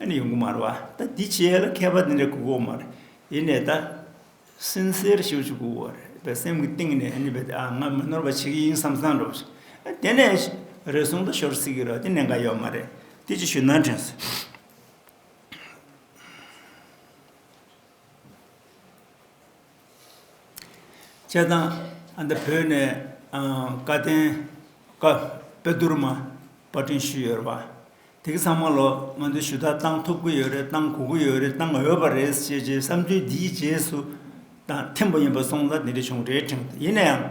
ཨ་ནི་ཡོང་གི་མ་རེད་བ་ད་འདི་བྱས་ལ་མཁས་པ་འདི་འདྲ་དགོས་གོ་མ་རེད་ཡེ་ནས་ད་སིན་སེར་ཞིག་བྱེད་དགོས་བ་རེད་བས་སེམས་ཀྱི་གཏིང་ནས་ཨ་ནི་བས་ད་ང་མི་ནོར་བ་བྱེད་ཀྱི་ཡིན་བསམ་བསམ་འགྲོ་བ་བྱེད་དེ་ནས་རེ་ཟུང་ད་ཤོར་སྲིད་ཀྱི་རེད་དེ་ནས་འགའ་ཡོད་མ་རེད་དེ་ཅིག་ཞུ་ན་དྲན་སོང། བྱས་ཙང་ཨ་མདོ་བོད་ནས་བཀའ་བསྟན་དཔེ་བསྡུར་མ་པར་སྐྲུན་ཞུས་ཡོད་པ་དེ་ག་ཚང་མ་ལོ་ང་ཚོས་ཞུ་དག་གཏང་ཐུབ་ཀྱི་ཡོད་རེད་གཏང་དགོས་ཀྱི་ཡོད་རེད་གཏང་འོས་པ་རེད་ཅེས་ཀྱི་བསམ་ཚུལ་འདིའི་རྗེས་སུ་དང་ཐེངས་པ་ཡིན་པ་སོང་ཙང་དེ་འདྲའི་བྱུང་འདྲའི་དྲན་ཡིན་ན་ཡང།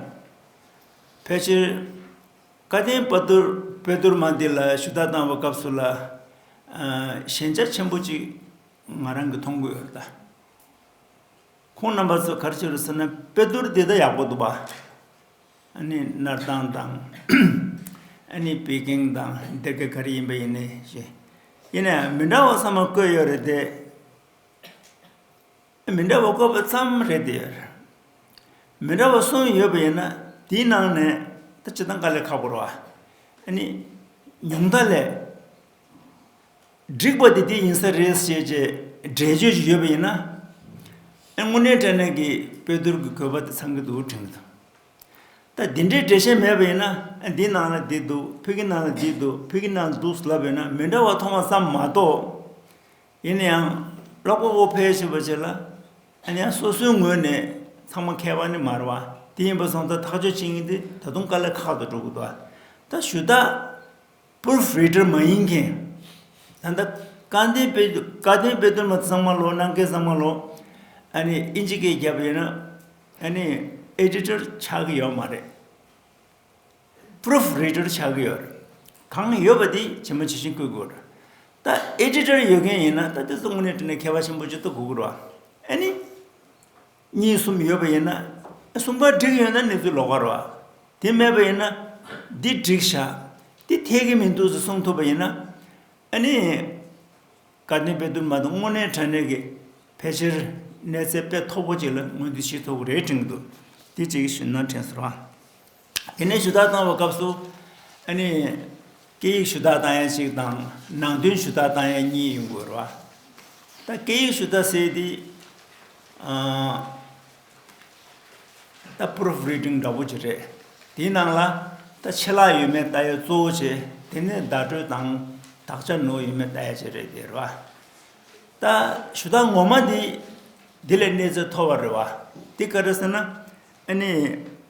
ཕལ་ཆེར་བཀའ་བསྟན་དཔེ་བསྡུར་མ་འདི་ལ་ཞུ་དག་གཏང་བའི་སྐབས་སུ་ལ་ཞན་ཆ་ཆེན་པོ་གཅིག་ང་རང་གིས་མཐོང་གི་ཡོད་རེད་ད། ཁོང་རྣམ་པ་ཚོ་གར་ཆེ་རུ་སོང་ན་དཔེ་སྡུར་འདི་ལྟ་ཡག་པོ་འདུག་བ། ཨ་ནི་སྣར་ཐང་དང། ཨ་ནི་པི་ཀེང་དང་འདི་ག་ག་རེ་ཡིན་པ་ཡིན་ནའི་ཞེས། ཡིན་ནའི་མི་འདྲ་བ་ཚང་མ་བཀོད་ཡོད་རེད་དེ། མི་འདྲ་བ་བཀོད་པ་ཙམ་རེད་དེ། མི་འདྲ་བ་གསུམ་ཡོད་པ་ཡིན་ན་དེའི་ནང་ནས་ད་ཇི་ལྟར་འགའ་ལས་ཁག་པོ་རེད་བ། ཨ་ནི་ཉུང་མཐའ་ལས། འགྲིག་པ་དེ་དེ་ཡིན་ས་རེད་ཞེས་བཅས་འགྲེལ་བརྗོད་ཅིག་ཡོད་པ་ཡིན་ན། དངོས་གནས་ཀྲེ་ནན་གྱིས་དཔེ་བསྡུར་གྱི་གོ་བ་དེ་ཚང་གི་འདུག་དྲན་གི་འདུག་ད་འདི་འདྲའི་འགྲེལ་བཤད་མེད་པ་ཡིན་ན་འདི་ནང་ལ་འདི་འདུག་ཕི་གི་ནང་ལ་འདི་འདུག་ཕི་གི་ནང་ལ་འདུག་ལབ་ཡོད་ན་མི་འདྲ་བ་མཐོང་བ་ཙམ་མ་གཏོགས། ཡིན་ན་ཡང་ཀློག་པ་པོ་ཕལ་ཆེ་བ་བྱས་ལ་ཡང་སོ་སོའི་ངོས་ནས་ཚང་མ་མཁས་པ་ནི་མ་རེད་བ་དེ་ཡིན་པ་སོང་ཙང་ཐག་གཅོད་བྱེད་ངེས་འདི་ད་དུང་དཀའ་ལས་ཁག་ཏུ་འགྲོ་དགོས་འདུག་བ་ད་ཞུ་དག། པུར་བྷེ་ཏར་མ་ཡིན་མཁན། ད་ལྟ་བཀའ་བསྟན་དཔེ་བཀའ་བསྟན་དཔེ་སྟོན་པ་ཚང་མ་ལོ་ནང་ཁའི་ཚང་མ་ལོ་ཨ་ནི་ཨིན་ཇི་ཀའི་རྒྱབ་ཡོད་ན་ཨ་ནི་ཨེ་དྲི་ཏར་ཆགས་ཀྱི་ཡོད་མ་རེད། པུར་བྷེ་ཏར་ཆགས་ཀྱི་ཡོད་རེད། གང་ཡོད་པ་དེ་ཇི་མ་ཇི་བཞིན་བཀོད་དགོས་རེད། ད་ཨེ་དྲི་ཏར་ཡོད་མཁན་ཡིན་ན་ད་དེ་ཚོ་དངོས་གནས་བཀྲིས་ནས་མཁས་པ་ཆེན་པོ་ཇི་ལྟར་གོ་དགོས་རེད། ཨ་ནི། གཉིས་གསུམ་ཡོད་པ་ཡིན་ན། གསུམ་པ་འགྲིག་ཡོད་ན་གནས་ཚུལ་ལོག་པར་བ། དེ་མེད་པ་ཡིན་ན། འདི་འགྲིག་བྱ། འདི་འཐད་ཀྱི་མི་འདུག་ཟེར་གསུངས་ཐུབ་པ་ཡིན་ན། ཨ་ནི། དགའ་ལྡན་པའི་འདུན་མ་དང་དངོས་གནས་དྲ་གནས་ཀྱི་ཕལ་ཆེར་གནས་ཚད་དཔེ་མཐོ་པོ་ཅིག་ལ་ངོས་འཛིན་བྱེད་ཐུབ་ཀྱི་རེད་དྲན་གྱི་འདུག་འདི་གཅིག་གཞོན་ནུ་དྲན་གསོ་རང། དེ་ནས་ཞུ་དག་བཏང་བའི་སྐབས་སུ། ཨ་ནི། སྐད་ཡིག་ཞུ་དག་བཏང་ཡས་གཅིག་དང། ནང་དོན་ཞུ་དག་བཏང་ཡས་གཉིས་ཡིན་དགོས་རོ། ད་སྐད་ཡིག་ཞུ་དག་ཟེར་དེ། ད Proof Reading འདྲ་བོ་ཅིག་རེད། དེའི་ནང་ལ། ད་ཆད་ལྷག་ཡོད་མེད་བལྟ་ཡས་གཙོ་བོ་ཆེ། དེ་ནས་བརྡ་སྤྲོད་དང། དག་ཆ་ནོར་ཡོད་མེད་བལྟ་ཡས་ཅིག་རེད་ཟེར་བ། ད་ཞུ་དག་ངོ་མ་དེ། དེ་ལས་གནས་ཚད་མཐོ་བ་རེད་བ། དེ་ག་རེད་ཟེར་ན། ཨ་ནི།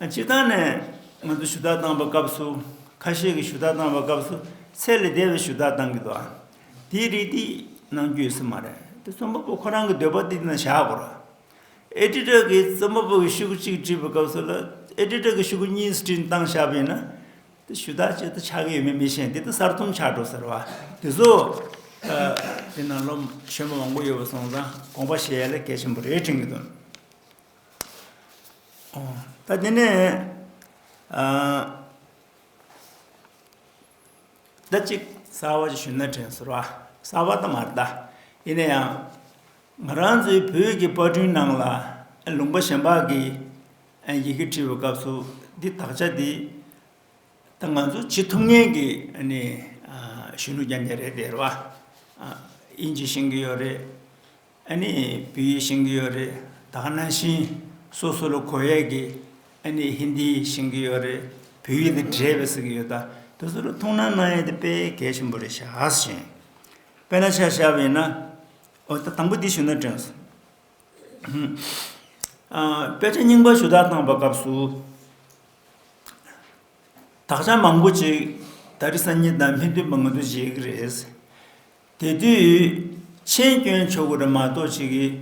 སྤྱིར་བཏང་ནས་ང་ཚོ་ཞུ་དག་བཏང་བའི་སྐབས་སུ། ཁ་ཤས་ཀྱིས་ཞུ་དག་བཏང་བའི་སྐབས་སུ་ཚད་ལས་འདས་པའི་ཞུ་དག་བཏང་གི་འདུག་ཨ། དེའི་རིགས་འདི་ནང་རྒྱུ་ཡོད་ས་མ་རེད། དེ་རྩོམ་པ་པོ་ཁོ་རང་གི་འདོད་པ་དེ་ནང་བཞག་དགོས་རོགས། Editor གིས་རྩོམ་པ་པོ་གི་ཤུགས་གཅིག་བྲིས་པའི་སྐབས་སུ་ལ Editor གི་ཤུགས་གཉིས་སྤྲིན་བཏང་བཞག་པ་ཡིན་ན། དེ་ཞུ་དག་བྱེད་དུ་ཆགས་ཀྱི་ཡོད་མེད་མི་ཤེས་འདི་ལྟར་གསར་རྩོམ་ཆགས་འགྲོ་ཟེར་བ་དེ་ཚོ། དེ་ནང་ལོ་ཆེན་མོ་མང་པོ་ཡོད་པ་སོང་ཙང་དགོངས་པ་བཞེས་ཡ་ལ་གལ་ཆེན་པོ་རེད་དྲན་གྱི་འདུག། ད་དེ་ནས་ད་ཅིག་ས་བ་ཅིག་ཞུ་ན་དྲན་ཟེར་བ་ས་བ་དང་མར་ལྟ་ཡིན་ན་ཡང་ང་རང་ཚོའི་བོད་ཀྱི་པར་སྐྲུན་ནང་ལ་ལུང་པ་གཞན་པ་གིས་ཡི་གེ་བྲིས་པའི་སྐབས་སུ་འདི་དག་ཆ་འདི་ད་ང་ཚོ་བྱེད་ཐུབ་ངེས་ཀྱི་གཞོན་ནུ་རྒྱ་མཚན་རེད་དེ་རེད་བ་དབྱིན་ཇི་ཤེས་ཀྱི་ཡོད་རེད་ཨ་ནི་བོད་ཡིག་ཤེས་ཀྱི་ཡོད་རེད་ད་ནང་བཞིན་སོ་སོ་ལ་གོ་ཡས་ཀྱི་ཨ་ནི་ཧིན་དི་ཡིག་ཤེས་ཀྱི་ཡོད་རེད་བོད་ཡིག་དེ་བྲེས་པའི་ཟིག་གི་ཡོད་ད་དེ་ཚོ་ལ་ཐུགས་སྣང་གནང་ཡས་དེ་དཔེ་གལ་ཆེན་པོ་རེད་ཤག་བཞིན་དཔེ་ན་ཆ་བཞག་པ་ཡིན་ན་འོ་ད་དང་པོ་འདི་ཞུ་ན་དྲན་སོང། དཔེ་ཆ་རྙིང་པ་ཞུ་དག་བཏང་པ་སྐབས་སུ། དག་ཆ་མང་པོ་ཅིག་ད་རི་སང་ཉིན་དང་མི་མཐུན་པ་ང་ཚོ་བཞེས་ཀྱི་རེད། དེ་དུས་མཆན་སྐྱོན་ཆོག་གི་རེད་མ་གཏོགས་ཅིག་གིས་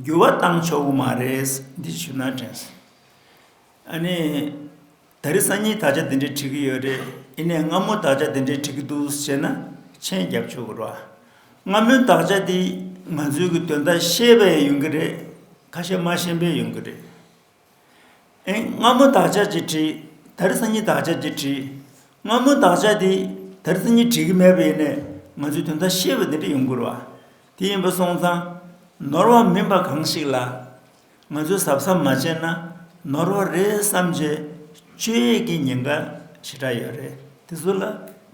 འགྱུར་བ་བཏང་ཆོག་གི་མ་རེད་འདི་ཞུ་ན་དྲན་སོང། ཨ་ནི། ད་རི་སང་ཉིན་དག་ཆ་འདི་འདྲའི་བྲིས་གི་ཡོད་རེད་ཨི་ནས་སྔ་མོ་དག་ཆ་འདི་འདྲའི་བྲིས་གི་འདུག་ཟེར་ན་མཆན་རྒྱབ་ཆོག་གི་རེད། སྔ་མོའི་དག་ཆ་འདི་ང་ཚོའི་གི་དོན་དག་ཤེས་པས་ཡོང་གི་རེད་ཁ་ཤས་མ་ཤེས་པས་ཡོང་གི་རེད། སྔ་མོ་བདག་ཅག་ཅིག་བྲིས་དེར་སང་ཉིན་བདག་ཅག་ཅིག་བྲིས། སྔ་མོ་བདག་ཅག་དེས་དེར་སང་ཉིན་བྲིས་ཀྱི་མེད་པ་ཡིན་ནས་ང་ཚོས་དོན་དག་ཤེས་པ་འདི་འདྲ་ཡོང་དགོས་རེད། དེ་ཡིན་པ་སོང་ཙང་ནོར་བ་མིན་པ་གང་ཞིག་ལ། ང་ཚོས་གཟབ་གཟབ་མ་བྱས་ན་ནོར་བ་རེད་བསམ་རྗེས་སྤྱོད་ཡས་ཀྱི་ཉེན་ཁ་ཞེ་དྲག་ཡོད་རེད་དེ་ཚོ་ལ་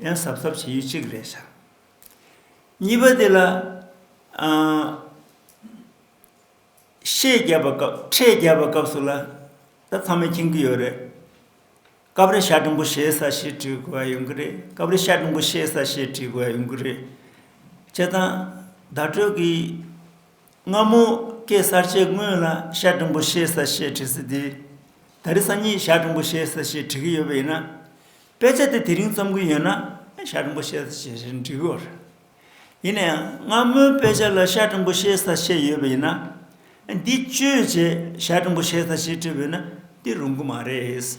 ཡང་གཟབ་གཟབ་བྱེད་ཡུལ་གཅིག་རེད་བྱ། གཉིས་པ་དེ་ལ། ཤེས་རྒྱབ་པ་སྐབས་ཁྲེས་རྒྱབ་པ་སྐབས་སུ་ལ་ད་ཚང་མས་མཁྱེན་གྱི་ཡོད་རེད། སྐབས་རེ་ཤ་ཀྲུང་གོ་ཤེས་ས་ཞེས་བྲིས་དགོས་པ་ཡོང་གི་རེད་སྐབས་རེ་ཤ་ཀྲུང་གོ་ཤེས་ས་ཞེས་བྲིས་དགོས་པ་ཡོང་གི་རེད། བྱས་ཙང་བརྡ་སྤྲོད་ཀྱི་སྔ་མོ་སྐད་གསར་བཅད་དངོས་ལ་ཤ་ཀྲུང་གོ་ཤེས་ས་ཞེས་བྲིས་ཚུལ་དེས། ད་རེས་སང་ཉིན་ཤ་ཀྲུང་གོ་ཤེས་ས་ཞེས་བྲི་གི་ཡོད་པ་ཡིན་ན། དཔེ་ཆ་དེ་དེ་རིང་རྩོམ་གྱི་ཡོད་ན་ཤ་ཀྲུང་གོ་ཤེས་ས་ཞེས་བྲིས་དགོས་རེད། ཡིན་ན་ཡང་སྔ་མོའི་དཔེ་ཆ་ལ་ཤར་ཀྲིན་པོ་ཤེ་ས་ཞེས་ཡོད་པ་ཡིན་ན། འདི་བཅོས་བྱས་ཤར་ཀྲིན་པོ་ཤེ་ས་ཞེས་བྲིས་པས་ན་འདི་རུང་གི་མ་རེད།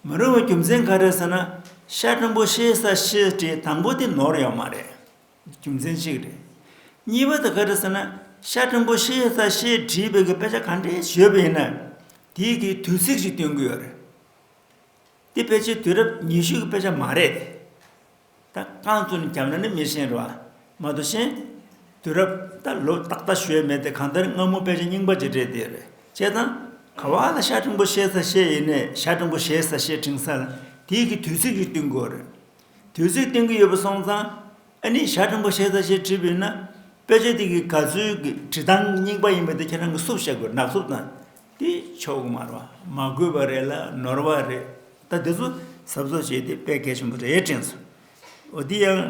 མི་རུང་བའི་རྒྱུ་མཚན་ག་རེ་ཟེར་ན་ཤར་ཀྲིན་པོ་ཤེ་ས་ཞེས་བྲིས་དང་པོ་དེ་ནོར་ཡོད་མ་རེད། རྒྱུ་མཚན་གཅིག་རེད། གཉིས་པ་དེ་ག་རེ་ཟེར་ན་ཤར་ཀྲིན་པོ་ཤེ་ས་ཞེས་བྲིས་པའི་དཔེ་ཆ་ག་འདྲའི་ཞོད་པ་ཡིན་ན། དེའི་དེའི་དུས་ཚིགས་ཤིག་སྟོན་གྱི་ཡོད་རེད། དེ་ཕལ་ཆེར་དུས་རབས་ཉི་ཤུ་གི་དཔེ་ཆ་མ་རེད། ད་རྐང་བཙུན་རྒྱབ་ན་ནི་མི་ཤེས་རོ། མ་དུ་ཤེས། དུས་རབས་ད་ལོ་ཏག་ཏག་ཞོལ་མེད་དེ་གང་ལྟར་སྔ་མོ་དཔེ་ཆ་རྙིང་པ་གཅིག་བྲིས་དེ་རེད་ཅེས་དང། ག་བ་ལ་ཤ་ཕྲེང་པོ་ཤེས་ས་ཤེས་ཡིན་ནས་ཤ་ཕྲེང་པོ་ཤེས་ས་ཤེས་ཕྲེང་ས་ལ་དེའི་གི་དུས་ཚིགས་ཤིག་བསྟུན་དགོས་རེད། དུས་ཚིགས་བསྟུན་གི་ཡོད་པ་སོང་ཙང། ཨ་ནི་ཤ་ཕྲེང་པོ་ཤེས་ས་ཤེས་བྲིས་པ་ཡིན་ན། དཔེ་ཆ་དེ་གི་ག་ཚོད་ཀྱི་བྲིས་སྟངས་རྙིང་པ་ཡིན་པ་དེ་ཁྱེད་རང་གི་སུབ་བཤད་དགོས་ནག་སུབ་དང། དེ་ཕྱོགས་དམར་བ་མ་དགོས་པ་རེད་ལ་ནོར་བ་རེད་ད་དེ་ཚོ་ཟབ་བཟོ་བྱས་ཏེ་དཔེ་གལ་ཆེན་པོ་རེད་དྲན་སོང་འོ་དེ་ཡང་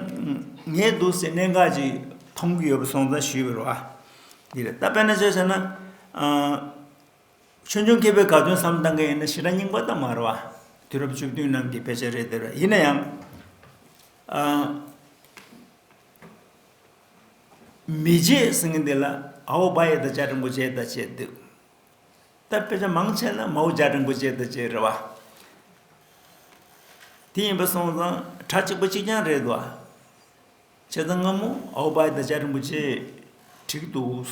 ངའི་སྡུག་སའི་གནད་འགག་ཅིག་མཐོང་གི་ཡོད་པ་སོང་ཙང་ཞུས་པར་བ་འདི་རེད་ད་དཔེ་ན་བྱས་ན་ཆོས་འབྱུང་མཁས་པའི་ག་དོན་བསམ་གཏང་མཁན་ཡིན་ན་ཞེ་དྲག་རྙིང་པ་དང་མར་བ་དུས་རབས་བཅུ་བདུན་ནང་གི་དཔེ་ཆ་རེད་འདོད་རེད་ཡིན་ན་ཡང་མི་བརྗེད་ཟེར་མཁན་དེ་ལ་ཨའོ་བྷ་ཡེ་དང་ལྕགས་རིན་པོ་ཆེ་དང་བཅས་འདུག་ད་དཔེ་ཆ་མང་ཆེ་ན་མའོ་ལྕགས་རིན་པོ་ཆེ་དང་བཅས་རེད་བ། དེ་ཡིན་པ་སོང་ཙང་གྲྭ་གཅིག་པོ་གཅིག་རྐྱང་རེད་བ། བྱས་ཙང་སྔ་མོ་ཨའོ་བྷ་ཡེ་དང་ལྕགས་རིན་པོ་ཆེ་འཁྲིགས་འདུག་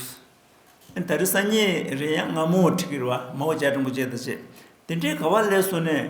ད་རེས་སང་ཉིན་རེད་ཡ་སྔ་མོ་འཁྲིགས་ཀྱི་རེད་བ་མའོ་ལྕགས་རིན་པོ་ཆེ་དང་བཅས་དེ་འདྲའི་ག་བ་ལས་སོང་ནས།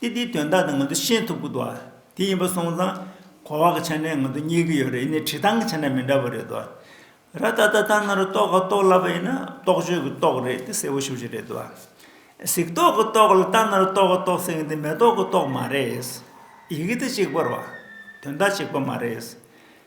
ཏེ་དེའི་དོན་དག་དེ་ང་ཚོས་ཤེས་ཐུབ་ཀི་འདུག་ཨ། དེ་ཡིན་པ་སོང་ཙང། གོ་བ་གི་ཆ་ནས་ང་ཚོ་རྙེད་ཀི་ཡོད་རེད་ཡིན་ནའི་བྲིས་ཐང་གི་ཆ་ནས་མི་འདྲ་བ་རེད་འདུག་ཨ། ར་ད་ལྟ་ད་ནང་རུ་རྟོག་ག་རྟོག་ལབ་པ་ཡིན་ན་རྟོག་དཔྱོད་ཀི་རྟོག་རེད་དེ་གསལ་བོ་ཤོད་ཀྱི་རེད་འདུག་ཨ། གཟིགས་རྟོག་གི་རྟོག་ལ་ད་ནང་རུ་རྟོག་ག་རྟོག་ཟེར་མཁན་དེ་མེ་ཏོག་གི་རྟོག་མ་རེད། ཡི་གེ་དེ་གཅིག་པར་བ། དོན་དག་གཅིག་པ་མ་རེད།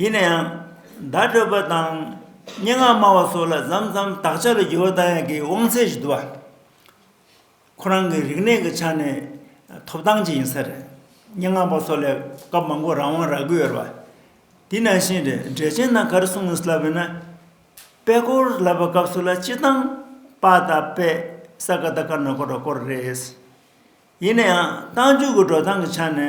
ཡིན་ན་ཡང། བརྡ་སྤྲོད་པ་དང། སྙན་ངག་སྨྲ་བ་སོགས་ལ་ཟམ་ཟམ་དག་ཆ་ལ་རྒྱུ་བ་ལྟ་ཡང་གི་དབང་ཚད་ཞིག་འདུ་བ། ཁོ་རང་གི་རིག་གནས་ཀྱི་ཆ་ནས་ཐོབ་ཐང་ཅིག་ཡིན་ས་རེད། སྙན་ངག་པ་སོགས་ལས་སྐབས་མང་པོར་རང་དབང་རག་གི་ཡོད་རེད་བ། དེ་ནང་བཞིན་རེད་འགྲེལ་ཆེན་ནང་ག་རེ་གསུངས་ཡོད་ལབ་ཡོད་ན། པད་ཀོར་ལབ་པ་སྐབས་སུ་ལ་སྤྱི་བཏང་པ་དང་པད་ས་ཀ་ད་ཀར་ནོར་ཀོར་རོ་ཀོར་རེད། ཡིན་ན་ཡང་བཏང་འཇུག་གི་འགྲོ་སྟངས་ཀྱི་ཆ་ནས།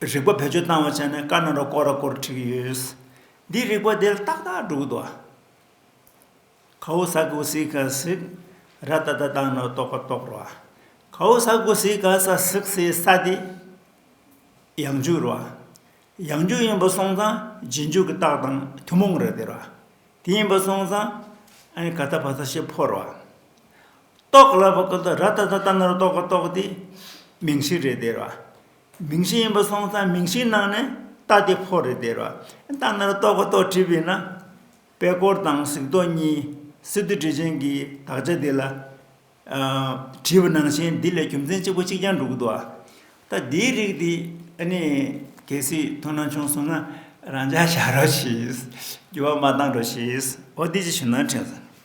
རིག་པ་བེད་སྤྱོད་བཏང་བ་བྱས་ནས་དཀར་ནག་ར་སྐོར་ར་སྐོར་བྲིས་ཀྱི་ཡོད། འདིས་རིག་པ་དེ་ཏག་ཏག་འགྲུབ་འདུག། ཁའོ་ས་གོ་སི་ཀ་སིག། ར་ཏ་ཏ་བཏང་ན་རྟོགས་པ་རྟོགས་རོགས་ཨ། ཁའོ་ས་གོ་སི་ཀ་ས་སིག་སའི་ས་དེ། ཡང་འཇུག་རོགས་ཨ། ཡང་འཇུག་ཡིན་པ་སོང་ཙང་རྗེས་འཇུག་གི་རྟགས་དང་ཐུན་མོང་རེད་དེ་རོགས་ཨ། དེ་ཡིན་པ་སོང་ཙང། ཨ་ནི་ག་ད་བ་ད་ཤེས་ཕོ་རོགས་ཨ། རྟོག་ལ་བ་ཀུ་ད་ར་ཏཱ་ད་ད་ནོར་རྟོག་གི་རྟོག་དེ་མིང་གཞི་རེད་དེ་ར། མིང་གཞི་ཡིན་པ་སོང་ཙང་མིང་གཞིའི་ནང་ནས་ད་དེ་ཕོ་རེད་དེ་ར། ད་ནོར་རྟོག་གི་རྟོག་བྲིས་པས་ན། པད་སྐོར་དང་གཟིགས་རྟོག་གཉིས་སི་ཏུ་བྲིས་ཅན་གྱི་དག་ཆ་དེ་ལ། བྲིས་པ་ནང་བཞིན་འདི་ལས་རྒྱུ་མཚན་གཅིག་པོ་གཅིག་རྐྱང་འགྲུག་འདུག་ཨ། ད་འདིའི་རིགས་དེ་ནི་གལ་སྲིད་མཐོང་སྣང་བྱུང་སོང་ན་རང་འཇགས་བྱ་རོགས་ཞེས། འགྱུར་བ་མ་བཏང་རོགས་ཞེས་འོ་དེ་ཅི་ཞུ་ན་དྲན་སོང།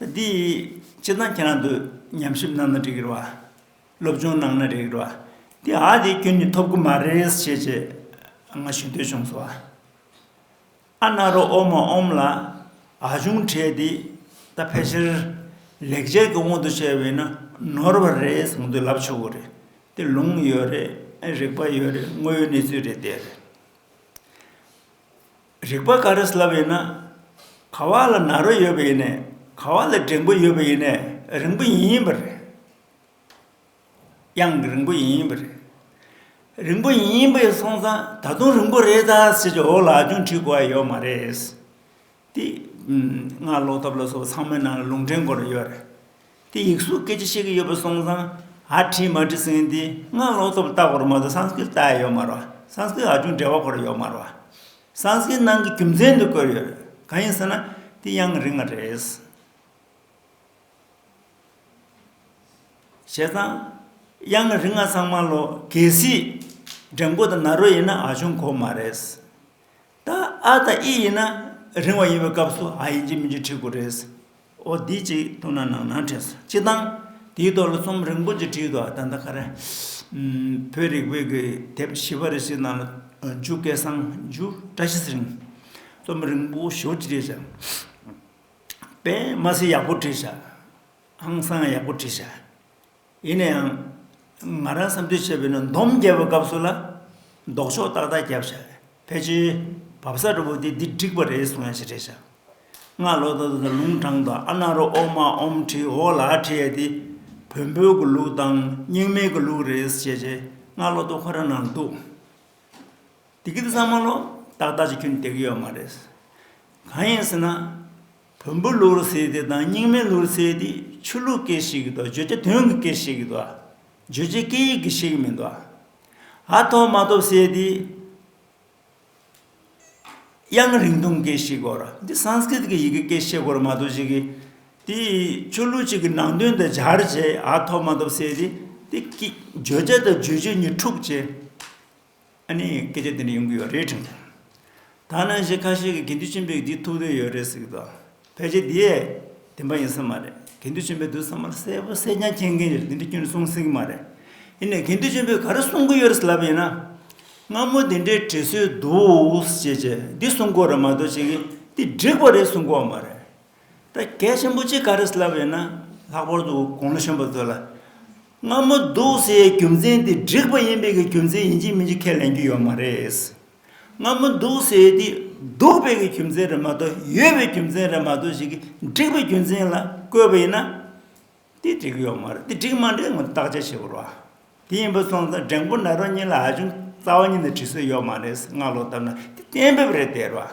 འདི་ཡིས་ཅི་གནང་ཁྱེད་རང་འདོད། ཉམས་ཞིབ་གནང་ན་འགྲིག་གི་རེད་བ། སློབ་སྦྱོང་གནང་ན་འགྲིག་གི་རེད་བ། འདི་ཨ་དེ་ཁྱོད་ནི་ཐོབ་གི་མ་རེད་ཞེས་བྱས། ང་ཞུ་འདོད་བྱུང་སོང་བ། ཨ་རྣ་རོ་ཨོ་མ་ཨོམ་ལ། ཨ་ཆུང་གྲས་འདི་ད་ཕལ་ཆེར། ལེགས་སྦྱར་གྱི་དབང་དུ་བྱས་བས་ན་ནོར་བ་རེད་གསུངས་དུས་ལབ་ཆོག་གི་རེད། དེ་ལུང་ཡོད་རེད་རིག་པ་ཡོད་རེད་དངོས་ཡོད་གནས་ཚུལ་རེད་དེ། རིག་པ་ག་རེ་ཟླ་བ་ཡིན་ན། ག་བ་ལ་ན་རོ་ཡོད་པ་ཡིན་ནས་ག་བ་ལ་འགྲེང་བུ་ཡོད་པ་ཡིན་ནས་རིང་བུ་ཡིན་ཡིན་པ་རེད། དབྱངས་རིང་བུ་ཡིན་ཡིན་པ་རེད། རིང་བུ་ཡིན་ཡིན་པ་ཡིན་སོང་ཙང་ད་དུང་རིང་བུ་རེད་ད་ཟེར་གྱི་འོག་ལ་ཨ་ཅུང་བྲིས་དགོས་བ་ཡོད་མ་རེད། དེ་སྔ་ཀློག་ཐབས་ལ་སོགས་ཚང་མའི་ནང་ལ་ལུང་འདྲེན་དགོས་རེ་ཡོད་རེད། དེ་ཡིག་གཟུགས་སྐད་ཆ་བཤད་གི་ཡོད་པ་སོང་ཙང་ཨ་བྲིས་མ་བྲིས་ཟིན་ཏེ་སྔར་ལོག་ཐོབ་ལྟ་བར་མ་གཏོགས་སངས་སྐིལ་བལྟ་ཡ་ཡོད་མ་རོ་སངས་སྐིལ་ཧ་ཅུང་འབྲེལ་བ་འཁོར་ཡོད་མ་རོ། སངས་སྐིལ་ནང་གི་རྒྱུ་མཚན་དུ་བཀོད་ཡོད། གང་ཡིན་ཟེར་ན་དེ་དབྱངས་རིག་མ་རེད། བྱས་ཙང་དབྱངས་རིག་མ་ཚང་མ་ལོ་གས་སྲིད། འདྲེ་མགོ་དང་ནཱ་རོ་ཡིན་ན་ཨ་ཅུང་གོ་མ་རེད། ད་ཨ་དང་ཨི་ཡིན་ན་རིང་བ་ཡིན་པའི་སྐབས་སུ་ཨ་ཡིན་གྱི་མིན་གྱི་ཁྲིད་དགོས་རེད། ཨོ་དེ་ཅིག་ཐུག་ན་ནང་ན་ཁྲིད་སོང་སྤྱི་བཏང། དེའི་ཐོག་ལ་རྩོམ་རིང་པོ་ཅིག་བྲིས་འདུག་ཨ་ད་ལྟ་ཁ་རས། བོད་རིག་པའི་གི་དེབ་བཞི་པ་རེ་ཞིག་ནང་ལ་འཇུག་སྐད་གསང་རྒྱུ་བཀྲ་ཤིས་རིང། རྩོམ་རིང་པོ་ཞོ་ཅིག་བྲིས་བཞག། པདྨ་སི་ཡག་པོ་བྲིས་བཞག། ཧང་སང་ཡག་པོ་བྲིས་བཞག། ཡིན་ན་ཡང། ང་རང་བསམ་ཚུལ་བྱས་པའི་ནང་འདོམས་རྒྱལ་པོ་སྐབས་སུ་ལ། ལྡོག་ཕྱོགས་ཏག་ཏག་བརྒྱབ་བྱ། ཕལ་ཆེར། བབ་ས་རི་བོ་དེ་འདི་འགྲིག་པ་རེད་གསུང་ཡ་ཆེ་བྲེད་བྱ། སྔགས་ལོག་ལྟ་བུ་དང་ལུང་དྲང་དང་ཨ་ནག་རོ་ཨོ་མ་ཨོམ་ཁྲི་ཨོ་ལ་ཁྲི་ཡ་དེ། བོན་པོའི་གུ་ལུགས་དང་རྙིང་མའི་གུ་ལུགས་རེད་ཟེར་བྱས་བྱས་སྔགས་ལོག་ལྟ་བུ་ཁོ་རང་ནང་འདུག། འདི་གི་དེ་ཚང་མ་ལོག་ཏག་ཏག་ཅིག་ཁྱོད་ནས་བསྡད་ཀྱི་ཡོད་མ་རེད། གང་ཡིན་ཟེར་ན། བོན་པོའི་ལུགས་ལ་ཟེར་དེ་དང་རྙིང་མའི་ལུགས་ལ་ཟེར་དེ་ཆོས་ལུགས་སྐད་ཞིག་གིས་འདུག་བརྗོད་བྱ་དོན་གྱི་སྐད་ཞིག་གིས་འདུག་བརྗོད་བྱའི་སྐད་ཡིག་གི་ཞིག་མི་འདུག་ཨ་ཐོབ་མ་ཐོབ་ཟེར་དེ། དབྱངས་རིང་ཐུང་སྐད་ཞིག་གོ་ར་འདི Sanskrit གི་ཡི་གེ་སྐད་ཤེས་གོ་ར་མ་གཏོགས་ཅིག་དེ་ཆོས་ལུགས་ཅིག་གི་ནང་དོན་དུ་སྦྱར་བྱས་ཨ་ཐོབ་མ་ཐོབ་ཟེར་དེ་དེ་བརྗོད་བྱ་དང་བརྗོད་བྱེད་གཉིས་འཁྲུག་བྱེད། ཨ་ནི་སྐད་ཆ་དེ་འདྲ་ཡོང་གི་ཡོད་རེད་དྲན་ཐལ། ད་ནང་བཞིན་ཁ་ཤས་ཀྱིས་དགེ་འདུན་ཆེན་པོས་འདི་ཐུགས་འདོད་ཡོད་རེད་ཟེར་གྱི་འདུག་ཕལ་ཆེར་དེ་བདེན་པ་ཡིན་ས་མ་རེད་དགེ་འདུན་ཆེན་པོས་དུས་ཚང་མར་གསལ་པོ་གསལ་རྐྱང་མཁྱེན་མཁན་རེད་དེ་འདྲ་ཁྱོད་ནས་གསུངས་སྲིད་ཀྱི་མ་རེད། དེ་ནས་དགེ་འདུན་ཆེན་པོས་ག་རེ་གསུང་གི་ཡོད་རེད་ལབ་པ་ཡིན་ན། སྔ་མོ་དེ་འདྲའི་དྲི་སོས་འདུག་ཅེས་བྱས་འདི་གསུང་གོ་རེད་མ་གཏོགས་བྱས་ཀྱི་འདི་འགྲིག་པ་རེད་གསུང་གོ་བ་མ་རེད། ད་སྐད་ཆེན་པོ་གཅིག་ག་རེ་ལབ་ཡོད་ན་ལྷག་པར་དུ་དགུང་ལོ་གཞོན་པ་ཚོ་ལ། སྔ་མོ་སྡུག་སེལ་ཡའི་རྒྱུ་མཚན་དེ་འགྲིག་པ་ཡིན་པའི་གི་རྒྱུ་མཚན་ཡིན་གཅིག་མིན་གཅིག་ཁས་ལེན་རྒྱུ་ཡོད་མ་རེད། སྔ་མོ་སྡུག་སེལ་དེ་སྡུག་པའི་གི་རྒྱུ་མཚན་རེད་མ་གཏོགས་ཡོད་པའི་རྒྱུ་མཚན་རེད་མ་གཏོགས་ཞིག་གིས་འགྲིག་པའི་རྒྱུ་མཚན་ལ་བཀོད་པ་ཡིན་ན། དེ་འགྲིག་ཡོད་མ་རེད་དེ་འགྲིག་མ་འགྲིག་ངོ་བརྟག་དཔྱད་བྱེད་དགོས་རོགས། དེ་ཡིན་པ་སོང་ཙང་འགྲེང་བུ་ནག་རོག་གཉིས་ལ་ཧ་ཅང་རྩ་བ་ཉིད་ནས་དྲི་སོ་ཡོད་མ་རེད་སྔགས་ལོག་བཏབ་ན་དེ་གཏན་འབེབས་རེད་དེ་རོགས།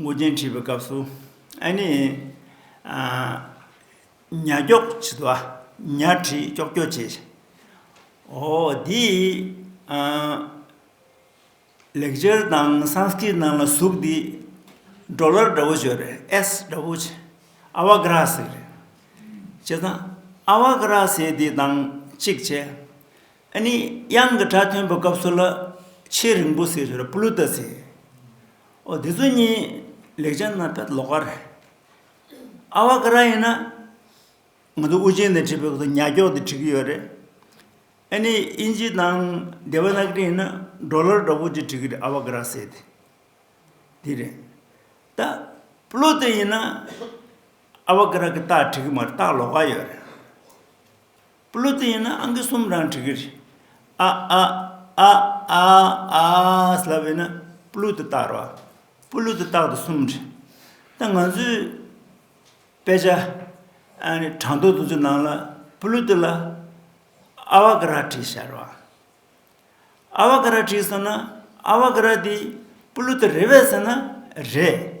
ངུ་རྒྱན་བྲིས་པའི་སྐབས་སུ། ཨ་ནི། ཉྭ་སྐྱོགས་བྱི་དོ། ཉྭ་བྲིས་སྐྱོགས་སྐྱོགས་བྱེད། ཨོ། འདི། ལེགས་སྦྱར་དང Sanskrit ནང་ལ་གཟུགས་འདི། འགྲོ་ལར་འདྲ་བོ་བྱོས་རེད་ཨེས་འདྲ་བོ་བྱེད། ཨ་བ་ཀ་ར་སེ་རེད། བྱས་ཙང། ཨ་བ་ཀ་ར་སེ་འདི་དང་གཅིག་བྱས། ཨ་ནི་དབྱངས་ཀྱི་སྒྲ་ཐོན་པའི་སྐབས་སུ་ལ། ཆེས་རིང་པོ་སེ་བྱོས་རེད་པླུ་ཏཱ་སེ། ཨོ་དེ་ཚོ་གཉིས་ལེགས་སྦྱར་ན་ཕལ་ལོག་ག་རེད། ཨ་བ་ཀ་ར་ཡིན་ན། ང་ཚོ་དབུ་ཅན་ནས་བྲིས་པའི་སྐོར་དུ་ཉག་སྐྱོག་དེ་བྲིས་ཀྱི་ཡོད་རེད། ཨ་ནི་དབྱིན་ཇི་དང་དེབ་ན་ཀ་རི་ཡིན་ན Dollar འདྲ་པོ་ཅིག་བྲིས་ཀྱི་རེད་ཨ་བ་ཀ་ར་ཟེར་དེ། དེ་རེད། ད་པློ་ཏི་ཡིན་ན་ཨ་བ་ཀ་ར་ཀི་ཏག་བྲིས་ཀྱི་མ་རེད་ཏག་ལོག་ག་ཡོད་རེད། པུ་ལུ་ཏི་ཡིན་ན་ཨང་ཀི་གསུམ་རང་བྲི་གི་རེད། ཨ་ཨ། ཨ་ཨ། ཨ་ཨཱ། ལབ་ཡོད་ན་པུ་ལུ་ཏི་བཏགས་རོགས། པུ་ལུ་ཏི་བཏགས་ཏེ་གསུམ་བྲི། ད་ང་ཚོའི་དཔེ་ཆ། གྲངས་ཐོ་དེ་ཚོའི་ནང་ལ་པུ་ལུ་ཏི་ལ་ཨ་བ་ཀ་ར་བྲིས་ཤག་རོགས། ཨ་བ་ཀ་ར་བྲིས་སོང་ན་ཨ་བ་ཀ་ར་དེ་པུ་ལུ་ཏི་རེད་བས་ཟེར་ན་རེད།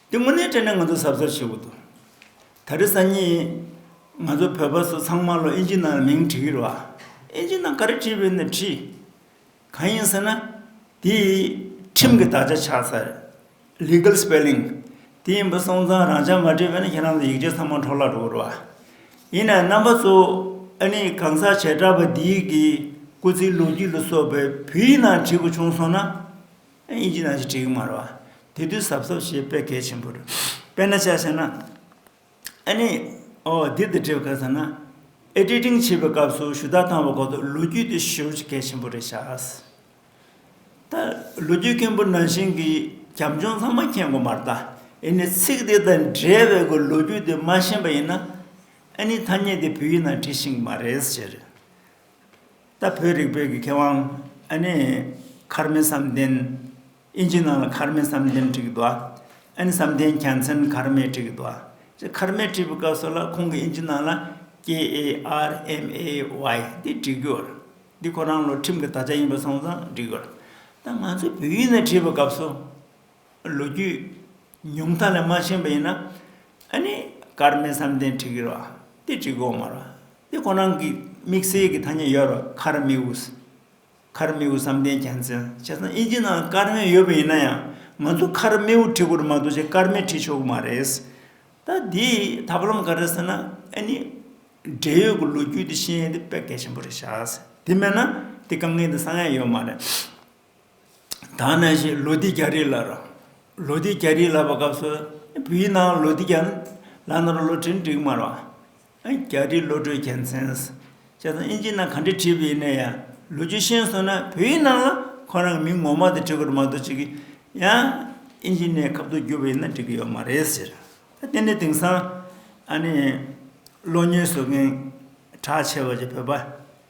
དེ་དངོས་གནས་དྲན་ནས་ང་ཚོ་ཟབ་ཟབ་བྱེད་དགོས་འདུག་ད་རེས་སང་ཉིན་ང་ཚོ་བོད་པ་ཚོ་ཚང་མ་ལོ་ཨེན་ཇི་ནང་ལ་མིང་བྲི་གི་རེད་བ། ཨེན་ཇི་ནང་ག་རེ་བྲིས་པའི་ནས་བྲིས། གང་ཡིན་ཟེར་ན་དེ་ཁྲིམས་ཀྱི་དག་ཆ་ཆགས་ཚར། Legal Spelling། དེ་ཡིན་པ་སོང་ཙང་རང་ཅག་མ་བྲིས་པའི་ནས་ཁྱེད་རང་ཚོ་ཡིག་ཆ་ཚང་མ་འཕྲོག་བརླག་འགྲོ་གི་རེད་བ། ཡིན་ནའི་རྣམ་པ་ཚོ་ཨ་ནི་གང་ཟག་བྱེ་བྲག་པ་འདིའི་གི་སྐུ་ཚེའི་ལོ་རྒྱུས་ལ་སོགས་པའི་བོད་ཡིག་ནང་བྲིས་པ་བྱུང་སོང་ན། དབྱིན་ཇི་ནང་བཞིན་བྲིས་ཀྱི་མ་རེད། དེ་དུས་ཟབ་ཟབ་ཞེས་དཔེ་གལ་ཆེན་པོ་རེད། དཔེར་ན་ཆ་བྱས་ན། ཨ་ནི། འོ་འདིར་དེ་བྲིས་པ་ག་ཚོད་ན། Editing བྱེད་པའི་སྐབས་སུ་ཞུ་དག་བཏང་བའི་སྐོར་དུ་ལོ་རྒྱུས་དེ་ཞུ་རྒྱུ་གལ་ཆེན་པོ་རེད་ཤག། ད་ལོ་རྒྱུས་མཁན་པོ་ནང་བཞིན་གྱི་རྒྱབ་ལྗོངས་ཚང་མ་མཁྱེན་དགོས་མ་རེད་ད། ཨེ་ནི་ཚིག་དེ་དང་འབྲེལ་བའི་སྒོས་ལོ་རྒྱུས་དེ་མ་ཤེས་པ་ཡིན་ན། ཨ་ནི་ཐ་སྙད་དེ་བོད་ཡིག་ནང་བྲིས་ཤིང་གི་མ་རེད་ཟེར། ད་བོད་རིགས་བོད་ཀྱི་མཁས་དབང་ཨ་ནེ་ཁར་མེ་བསམ་གཏན། ཨིན་ཇི་ནང་ལ་ཁར་མེ་བསམ་གཏན་བྲིས་ཀྱི་འདུག་ཨ་ཨེན་བསམ་གཏན་གྱ་ཚན་ཁར་མེ་བྲིས་ཀྱི་འདུག་ཨ་ཅེ་ཁར་མེ་བྲིས་པའི་སྐབས་སུ་ལ་ཁོང་གིས་ཨིན་ཇི་ནང་ལ KARMAY འདི་བྲིས་རྒྱུ། འདི་ཁོ་རང་ལོ་ཁྲིམས་ཀྱི་དག་ཆ་ཡིན་པ་སོང་ཙང་བྲིས་རྒྱུ། ད་ང་ཚོས་བོད་ཡིག་ནས་བྲིས་པའི་སྐབས་སུ་ལོ་རྒྱུས་ཉུང་མཐའ་ལས་མ་ཤེས་པ་ཡིན་ན། ཨ་ནི་ཀར་མའི་བསམ་གཏན་བྲི་གི་རོགས་དེ་བྲི་གོ་མ་རོགས་དེ་ཁོ་རང་གི་དམིགས་བསལ་གྱི་ཐ་སྙད་ཡོད་རོགས་ཁར་མི་ཝུ། ཁར་མི་ཝུ་བསམ་གཏན་གྱ་མཚན་བྱས་ཙང་དབྱིན་ཇི་ནང་ཀར་མའི་ཡོད་པ་ཡིན་ན་ཡང་ང་ཚོ་ཁར་མི་ཝུ་བྲི་དགོས་རེད་མ་གཏོགས་ཆེ་ཀར་མའི་བྲི་ཆོག་གི་མ་རེད། ད་དེའི་ཐབས་ལམ་ག་རེད་ཟེར་ན་ཨ་ནི་འབྲེལ་ཡོད་ཀྱི་ལོ་རྒྱུས་དེ་ཤེས་ཡོན་དེ་དཔེ་གལ་ཆེན་པོ་རེད་བྱ། དེ་མེད་ན་དེ་དཀའ་ངལ་དེ་སངས་ཡ་ཡོད་མ་རེད། དང་ནང་བཞིན་ལོ་ཟླའི་རྒྱ་རིས་ལ་ར། ལོ་ཟླའི་རྒྱ་རིས་ལ་བ་སྐབས་སུ། བུའི་ནང་ལོ་ཟླའི་རྒྱ། ལ་ནོར་ལོ་ཁྲིན་འགྲིག་མར་བ། རྒྱ་རིས་ལོ་གྲོས་གྱེན་འཚེན། བྱས་ཙང་དབྱིན་ཇིའི་ནང་ག་འདྲས་བྲིས་པའི་ནས་ཡང་ལོ་རྒྱུས་ཤེས་སོང་ན་བུའི་ནང་ལ་ཁོ་རང་གི་མིང་ངོ་མ་དེ་བྲི་དགོས་རེད་མ་གཏོགས་ཅི་གི་ཡང་དབྱིན་ཇིའི་ནས་ཁབ་ཏུ་བསྒྱུར་བའི་ནང་འགྲིག་གི་ཡོད་མ་རེད་ཟེར། དེ་ནས་དེང་སང་ཨ་ནི་བློ་ཉེས་བཟོ་མཁན་གྲགས་ཆེ་བ་ཆེ་བོད་པ།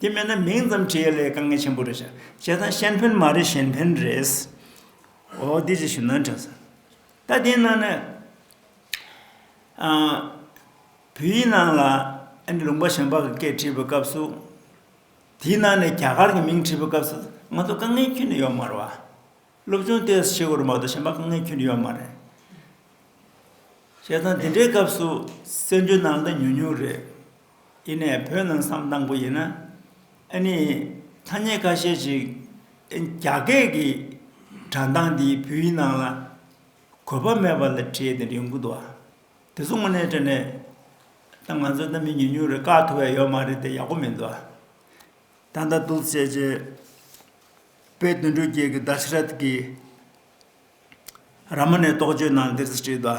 དེ་མེད་ན་མིང་ཙམ་བྲིས་ཡོད་ལས་དཀའ་ངལ་ཆེན་པོ་རེད་བྱ་བྱས་ཙང་ཤན་ཕན་མ་རེད་གཞན་ཕན་རེད། འོ་འདི་ཅི་ཞིག་ནོན་དྲན་སོང། ད་དེའི་ནང་ནས་བོད་ཡིག་ནང་ལ་ཨ་ནེ་ལུང་པ་ཞང་པ་གི་སྐད་བྲིས་པའི་སྐབས་སུ། དེའི་ནང་ནས་རྒྱ་གར་གྱི་མིང་བྲིས་པའི་སྐབས་སུ་ང་ཚོ་དཀའ་ངལ་ཁྱོན་ནས་ཡོད་མ་རེད་བ། སློབ་ཆུང་ལྟེ་བ་ཆེ་གོ་རེ་མ་གཏོགས་གཞན་པ་དཀའ་ངལ་ཁྱོན་ནས་ཡོད་མ་རེད། བྱས་ཙང་དེ་འདྲའི་སྐབས་སུ་སེམས་ཆུང་ནང་ལ་ཉུང་ཉུང་རེད། ཨི་ནས་བོད་ནང་བསམ་དང་པོ་ཡིན་ན་ཨ་ནི་ཐ་སྙད་ཁ་ཤས་ཤིག་རྒྱ་སྐད་ཀྱི་དྲ་མདངས་འདི་བུའི་ནང་ལ་གོ་བ་མེད་པ་ལ་བྲིས་ནས་རིང་པོ་འདུག་ཨ་དེ་ཚོ་དངོས་གནས་བྲིས་ནས་ད་ང་ཚོ་གནའ་མི་ཉུང་ཉུང་རེ་བཀག་ཐུབ་བས་ཡོད་མ་རེད་དེ་ཡག་པོ་མི་འདུག་ཨ། ད་ལྟ་འདུག་བྱས་རྗེས་དཔལ་དོན་གྲུབ་རྒྱལ་གྱི Dashrath གིས་ར་མ་ནས་རྟོགས་བརྗོད་ནང་འདིར་བྲིས་འདུག་ཨ།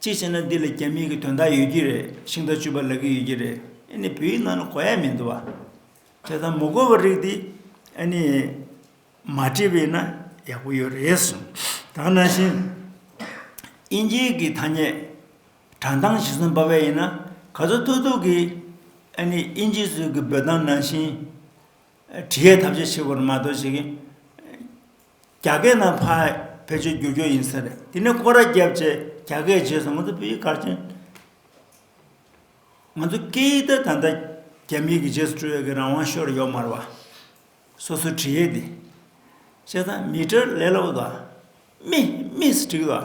ཅིག་བྱས་ན་འདི་ལ་རྒྱ་མིང་གི་དོན་དག་ཡོད་ཀྱི་རེད་ཤིང་རྟ་བཅུ་པ་ལབ་ཀྱི་ཡོད་ཀྱི་རེད་ཨེ་ནི་བོད་ཡིག་ནང་ལ་གོ་ཡ་མི་འདུག་བ། དེ་དང་མོ་གོ་བ་རིགས་འདི་ཨེ་ནི་མ་བྲིས་པ་ཡིན་ན་ཡག་པོ་ཡོད་རེད་གསུངས་ད་ནང་བཞིན་དབྱིན་ཇིའི་གི་ཐ་སྙད་དྲང་ཐང་བཞི་གསུམ་པ་བས་ཡིན་ན་ག་ཚོད་ཐུག་ཐུག་གི་ཨེ་ནི་དབྱིན་ཇི་ཚོས་གི་འབོད་སྟངས་ནང་བཞིན་བྲི་ཡ་ཐབས་ཆེ་ཆེ་བོར་མ་གཏོགས་བྱེད་ཀྱི། རྒྱ་སྐད་ནང་ཕ་བེད་སྤྱོད་བསྒྱུར་རྒྱུ་ཡིན་ས་རེད་དེ་ནས་སྐོར་ར་བརྒྱབ་རྗེས་རྒྱ་སྐད་བརྗེད་སོང་ང་ཚོ་བོད་ཡིག་གར་མཁན། ང་ཚོ་སྐད་ཡིག་དེ་ད་ལྟ་རྒྱ་མིའི་གི་རྗེས་སུ་སྤྲོད་ཡོད་གི་རང་དབང་ཤོར་ཡོད་མར་བ། སོ་སོའི་བྲི་ཡས་དེ། བཤད་ད་མི་ཏྲར་ལས་ལོག་ད། མི་མིས་བྲིས་ད།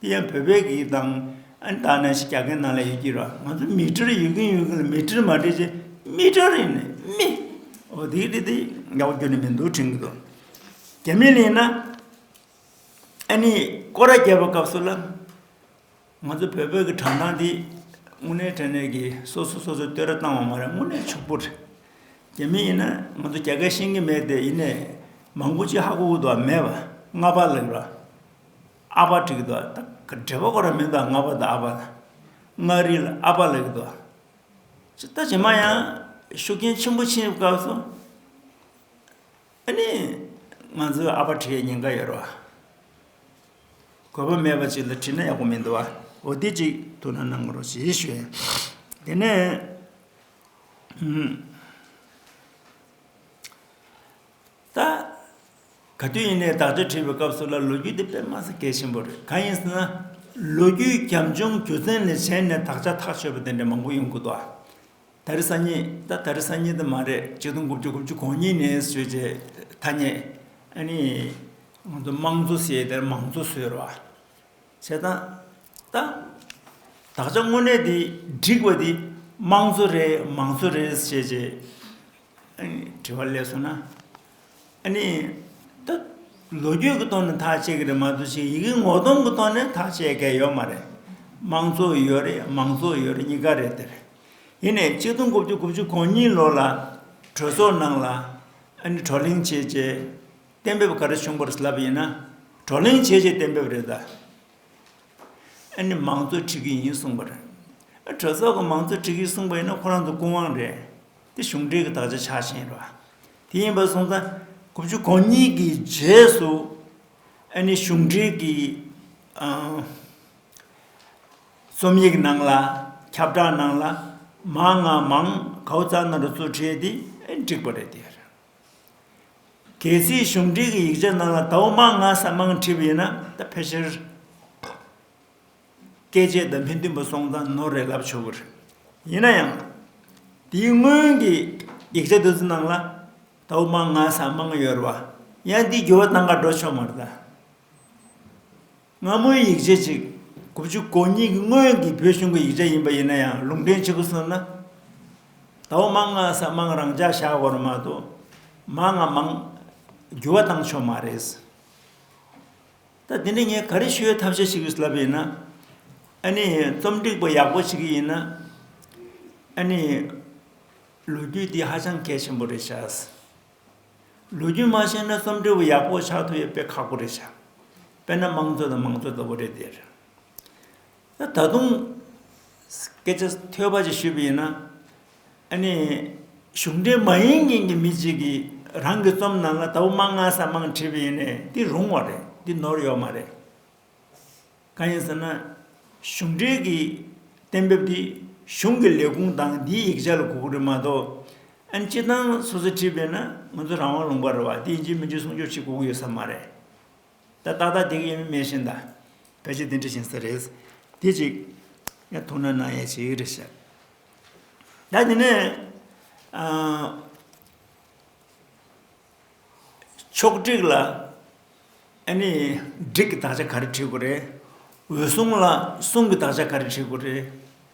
དེ་ཡང་བོད་པའི་གིས་དང་ཨན་ད་ནས་ཞིག་རྒྱ་སྐད་ནང་ལ་ཡོད་ཀྱི་རོ་ང་ཚོ་མི་ཀྲིར་ཡོད་ཀྱིན་ཡོད་ཀྱིན་ལ་མི་ཀྲིར་མ་ཀྲིར་ཅེས་མི་ཀྲིར་ཡིན་ནི་མི་འོ་དེའི་ཀྲི་དེ་ཡག་པོ་བསྒྱུར་ནི་མི་འདུག་དྲན་གྱི་འདུག་རྒྱ་མི་ལེན་ན་ཨ་ནི་ཀོ་ར་རྒྱབ་པའི་སྐབས་སུ་ལ་ང་ཚོ་བོད་པའི་གི་དྲང་གཏམ་དེ་དངོས་གནས་དྲན་ནས་གི་སོ་སོ་སོ་སོ་བསྟོད་ར་བཏང་བ་མ་རེད་དངོས་གནས་ཕྱུག་པོ་རེད་རྒྱ་མི་ཡིན་ན་ང་ཚོ་རྒྱ་སྐད་ཤེས་ཀྱི་མེད་དེ་ཡིན་ནས་མང་པོ་ཅི་ཧ་གོ་གོ་དོག་མེད་པ་ལྔ་པ་ལེགས་རོ་ཨ་ཕ་དྲེགས་འདུག་ཨ་དྲེགས་པ་ཁོ་རང་མིང་དང་མངའ་བ་དང་ཨ་ཕ་དང། མངའ་རིས་ལ་ཨ་ཕ་ལེགས་འདུག། ཅེས་ལྟ་བྱས་མ་ཡང་ཤུགས་རྐྱེན་ཆེན་པོ་ཕྱིན་ཡོད་སྐབས་སུ། ཨ་ནི། ང་ཚོའི་ཨ་ཕ་དྲེགས་ཡས་ཉེན་ཁ་ཡོད་རེད། གོ་བ་མེད་པ་ཅིག་ལ་དྲིས་ན་ཡག་པོ་མི་འདུག་བ་འོ་དེ་ཅིག་ཐུགས་ན་གནང་རོགས་ཞེས་ཞུས། དེ་ནས། ད། ག་དུས་ཡིན་ནའི་དག་སྒྲའི་ཁྲིད་པའི་སྐབས་སུ་ལ་ལོ་རྒྱུས་འདི་དཔེ་མངས་སུ་གལ་ཆེན་པོ་རེད་གང་ཡིན་ཟེར་ན། ལོ་རྒྱུས་རྒྱབ་ལྗོངས་རྒྱུ་མཚན་ལས་གཞན་ནས་དག་ཆ་ཐག་ཆོད་པ་དེ་འདྲ་མང་པོ་ཡོང་དགོས་འདུག་ཨ། ད་རེས་ས་ཉིད་ད་ད་རེས་ས་ཉིད་དུ་མ་རེད་ཆིག་སྟོང་དགུ་བཅུ་དགུ་བཅུ་གོང་གཉིས་ནས་ཟོས་རྗེས་ཐ་སྙད་ཨ་ནི། ང་ཚོ་དམངས་གཙོ་ཟེར་ཡས་དེར་མང་གཙོ་ཟེར་བ། བྱས་ཙང། ད། དག་ཆ་དངོས་གནས་དེ་འགྲིག་པ་དེ་དམངས་གཙོ་རེད་མང་གཙོ་རེད་ཟེར་བྱས་རྗེས། དྲི་བ་ལས་སོ་ན། ཨ་ནི། ད་ལོ་རྒྱུས་ཀྱི་ཐོག་ནས་ཐག་བཅད་ཀྱི་རེད་མ་གཏོགས་ཞིག་ཡི་གེ་ངོ་གདོང་གི་ཐོག་ནས་ཐག་བཅད་མཁན་ཡོད་མ་རེད། དམངས་གཙོ་ཡོད་རེད་མང་གཙོ་ཡོད་རེད་གཉིས་ཀ་རེད་དེ། ཡིན་ནས་གཅིག་སྟོང་དགུ་བཅུ་དགུ་བཅུ་གོ་གཉིས་ལོ་ལ་གྲོས་ཚོགས་ནང་ལ་ཨ་ནི་བགྲོ་གླེང་བྱས་རྗེས་གཏན་འབེབས་ག་རེ་བྱུང་པར་ལབ་ཡིན་ན་བགྲོ་གླེང་བྱས་རྗེས་གཏན་འབེབས་རེད་ད། ཨ་ནི་མང་གཙོ་འཁྲིད་ཀྱི་ཡིན་གསུངས་པར། གྲོས་ཚོགས་ཀྱི་མང་གཙོ་འཁྲིད་ཀྱི་གསུངས་པ་ཡིན་ན་ཁོ་རང་ཚོ་ཀུན་དབང་རེད། དེ་གཞུང་འགྲེལ་གྱི་དག་ཆ་ཆགས་ཞེན་རོ། དེ་ཡིན་པར་གསུངས་ས། དགུ་བཅུ་གོ་གཉིས་ཀྱི་རྗེས་སུ་ཨ་ནི་གཞུང་འགྲེལ་གྱི་རྩོམ་ཡིག་ནང་ལ་ཁྱབ་བསྒྲགས་ནང་ལ་མང་ང་མང་གའུ་རྩ་ན་རུ་གཙོ་བྱས་ཏེ་བསྒྲིགས་པ་རེད་དེ། གལ་སྲིད་གཞུང་འགྲེལ་གྱི་ཡིག་ཆ་ནང་ལ་དྭོགས་མང་ང་ས་མང་བྲིས་པ་ཡིན་ན་ད་ཕལ་ཆེར། བཀས་བཅད་བདམས་ཕན་བདུན་པ་སོང་ཙང་ནོར་རེ་ལབ་ཆོག་གི་རེད། ཡིན་ན་ཡང། དེའི་སྔོན་གྱི་ཡིག་ཆ་དེ་ཚོ་ནང་ལ། ད་བུ་མང་ང་ས་མང་ཡོད་རེད་བ། ཡང་དེའི་འགྱུར་བ་གཏང་ག་འགྲོ་ཆོག་མ་རེད་ད། སྔ་མོའི་ཡིག་ཆ་ཅིག་དགུ་བཅུ་གོ་གཉིས་ཀྱི་སྔོན་གྱི་བོད་གཞུང་གི་ཡིག་ཆ་ཡིན་པ་ཡིན་ན་ཡང་ལུང་འདྲེན་བྱེད་དགོས་ཟེར་ན། ད་བུ་མང་ང་ས་མང་རང་འཇགས་བཞག་དགོས་རེད་མ་གཏོགས། མང་ང་མང་འགྱུར་བ་གཏང་ཆོག་མ་རེད། ད་དེ་ནས་ངས་ག་རེ་ཞུ་བའི་ཐབས་ཤེས་ཞིག་ཡོད་ལབ་པ་ཡིན་ན། ཨ་ནི་རྩོམ་སྒྲིག་པ་ཡག་པོ་ཞིག་གི་ཡིན་ན། ཨ་ནི། ལོ་རྒྱུས་འདི་ཧ་ཅང་གལ་ཆེན་པོ་རེད་བྱ། ལོ་རྒྱུས་མ་ཤེས་ན་རྩོམ་སྒྲིག་པ་ཡག་པོ་ཆགས་ཐུབ་ཡོད་དཔེ་ཁག་པོ་རེད་བྱ། དཔེར་ན་དམངས་གཙོ་དང་མང་གཙོ་ལྟ་བུ་རེད་དེ། ད་དུང་སྐད་ཆ་ཐོས་པ་ཅིག་ཞུས་པ་ཡིན་ན། ཨ་ནི་གཞུང་འབྲེལ་མ་ཡིན་མཁན་གྱི་མི་ཅིག་གིས་རང་གི་རྩོམ་ནང་ལ་ད་བུ་མང་ང་ས་མང་བྲིས་པ་ཡིན་ནས་འདི་རུང་བ་རེད་འདི་ནོར་ཡོད་མ་རེད། གང་ཡིན་ཟེར་ན་གཞུང་འབྲེལ་གྱི་གཏན་འབེབས་འདི་གཞུང་གི་ལས་ཁུངས་དང་འདིའི་ཡིག་ཆ་ལ་གོ་དགོས་རེད་མ་གཏོགས་ཨ་ནི་སྤྱི་བཏང་སོ་སོས་བྲིས་པས་ན་ང་ཚོ་རང་དབང་ལུང་པ་རེད་བ་འདི་ཡིན་གཅིག་མིན་གཅིག་གསུང་ཆོག་ཅིག་གོ་གི་ཡོད་ས་མ་རེད། ད་ལྟ་ལྟ་དེ་གི་ཡིན་མིན་ཤེས་མདའ། བོད་ཆས་འདི་འདྲ་བཞིན་ཟེར་རེད། དེ་ཅིག། ཡང་ཐུགས་ན་ནག་ཡེ་ཆེ་གི་རེད་བཤད། ད་དེ་ནས། ཆོག་སྒྲིག་ལ། ཨ་ནི། སྒྲིག་གི་དག་ཆ་ག་རེ་བྲིས་དགོས་རེད། འོད་སྲུང་ལ་སྲུང་གི་དག་ཆ་ག་རེ་བྲིས་དགོས་རེད།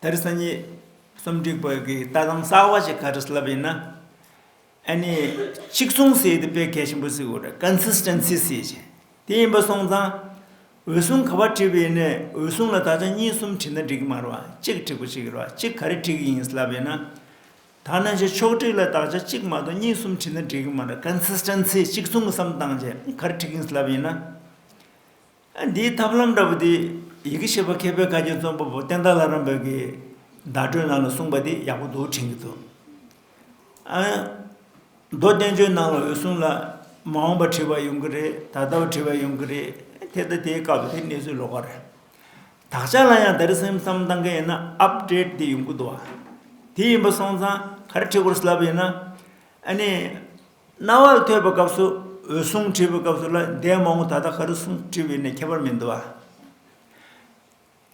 དེར་སང་ཉིན་གསུམ་སྒྲིག་བོད་ཀྱི་ལྟ་སྟངས་གསར་བ་ཞིག་ག་རེ་ལབ་ཡིན་ན། ཨ་ནི་གཅིག་མཚུངས་སེ་ཡིན་དུ་དཔེ་གལ་ཆེན་པོ་གཟིགས་དགོས་རེད Consistency སེ་ཡིན། དེ་ཡིན་པ་སོང་ཙང་འོད་སྲུང་ག་བ་བྲིས་པ་ཡིན་ནའི་འོད་སྲུང་ལ་ད་ཆ་གཉིས་གསུམ་བྲིས་ན་འགྲིག་གི་མ་རེད་བ་གཅིག་བྲིས་པ་ཞིག་རེད་བ་གཅིག་ག་རེ་བྲིས་ཀྱི་ཡིན་ལབ་ཡིན་ན། ད་ནང་ཆོས་ཕྱོགས་བསྒྲིགས་ལ་དག་ཆ་གཅིག་མ་གཏོགས་གཉིས་གསུམ་བྲིས་ན་འགྲིག་གི་མ་རེད Consistency གཅིག་མཚུངས་གི་བསམ་སྟངས་ཅན་ག་རེ་བྲིས་ཀྱི་ཡིན་ལབ་ཡིན་ན། འདིའི་ཐབས་ལམ་འདྲ་བོ་དེ་ཡི་གེ་ཤེས་པ་མཁས་པའི་བཀའ་བརྒྱུད་རྩོམ་པ་པོ་བསྟན་དར་བླ་རམས་པའི་བརྡ་སྤྲོད་ནང་ལ་གསུངས་པ་དེ་ཡག་པོ་འདུག་དྲན་གྱི་འདུག་མདོ་བསྟན་བཅོས་ནང་ལ་འོད་སྲུང་ལ་མ་འོངས་པར་བྲི་བ་ཡོང་གི་རེད་ད་ལྟ་བ་བྲི་བ་ཡོང་གི་རེད་དེ་ལྟ་དེའི་སྐབས་དེ་གནས་ཚུལ་ལོགས་ཀ་རེད་དག་ཆ་ལ་ཡང་ད་རེས་སེམས་གཏམ་བཏང་གི་ཡིན་ན Update དེ་ཡོང་གི་འདུག་དེ་ཡིན་པ་སོང་ཙང་ག་རེ་བྲི་དགོས་སླ་པོ་ཡིན་ན་ཨ་ནི་རྣ་བར་ཐོས་པའི་སྐབས་སུ་འོད་སྲུང་བྲིས་པའི་སྐབས་སུ་ལ་ཟླའི་མ་མོ་ད་ལྟ་ག་རེ་སྲུང་བྲིས་པའི་ནི་ཁྱད་པར་མི་འདུག་ཨ།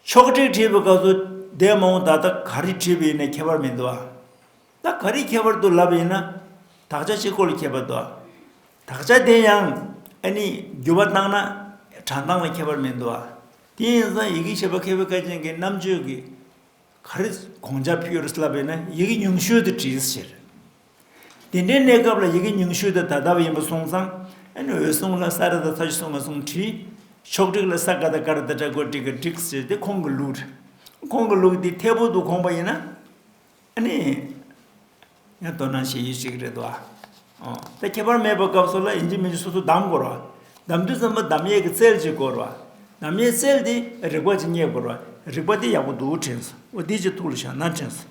ཕྱོགས་བྲིས་བྲིས་པའི་སྐབས་སུ་ཟླའི་མ་མོ་ད་ལྟ་ག་རེ་བྲིས་པའི་ནི་ཁྱད་པར་མི་འདུག་ཨ། ད་ག་རེའི་ཁྱད་པར་དུ་ལབ་ཡིན་ན་དག་ཆ་གཅིག་གོ་ལ་ཁྱད་པར་འདུག་ཨ། དག་ཆ་དེ་ཡང་ཨ་ནི་བསྒྱུར་བ་བཏང་ན་གྲངས་བཏང་ལ་ཁྱད་པར་མི་འདུག་ཨ། དེ་ཡིན་ཙང་ཡི་གེ་ཞེས་པ་མཁས་པའི་བཀའ་བྱིན་གྱི་རྣམ་དཔྱོད་ཀྱིས་ག་རེ་གོང་ཆ་ཕུལ་ཡོད་རེད་ལབ་ཡིན་ན་ཡི་གེ་ཉུང་ཤོས་དུ་བྲིས་ཟེར། དེ་འདྲའི་གནས་སྐབས་ལ་ཡི་གེ་ཉུང་ཤོས་དེ་ད་ལྟ་བ་ཡིན་པ་སོང་ཙང། འོད་སྲུང་ལ་ས་ར་དང་ས་ཆུ་སོང་བ་སོང་བྲིས། ཕྱོགས་བསྒྲིགས་ལ་ས་ཀ་དང་ཀ་ར་དང་བྲག་བརྐོས་བསྒྲིགས་ཀ་བསྒྲིགས་ཟེར་ཏེ་ཁོང་གི་ལུགས་རེད། ཁོང་གི་ལུགས་འདི་འཐད་པོ་འདུག་ཁོང་པ་ཡིན་ན། ནི། ཡང་དོ་སྣང་བྱེད་ཡུལ་ཞིག་རེད་འདུག་ཨ། ཨོ། ད་ཁྱད་པར་མེད་པ་སྐབས་སོགས་ལ་ཡིན་གཅིག་མིན་གཅིག་སོ་སོ་གདམ་དགོས་རོགས། གདམ་དུས་ཙམ་པ་གདམ་ཡས་ཀྱི་རྩལ་གཅིག་དགོས་རོགས། གདམ་ཡས་རྩལ་དེ་རིག་པ་གཅིག་རྙེད་དགོས་རོགས། རིག་པ་དེ་ཡག་པོ་འདུག་དྲན་སོང་འོ་འདི་གཅིག་ཐུགས་ལ་བཞག་ན་དྲན་སོང།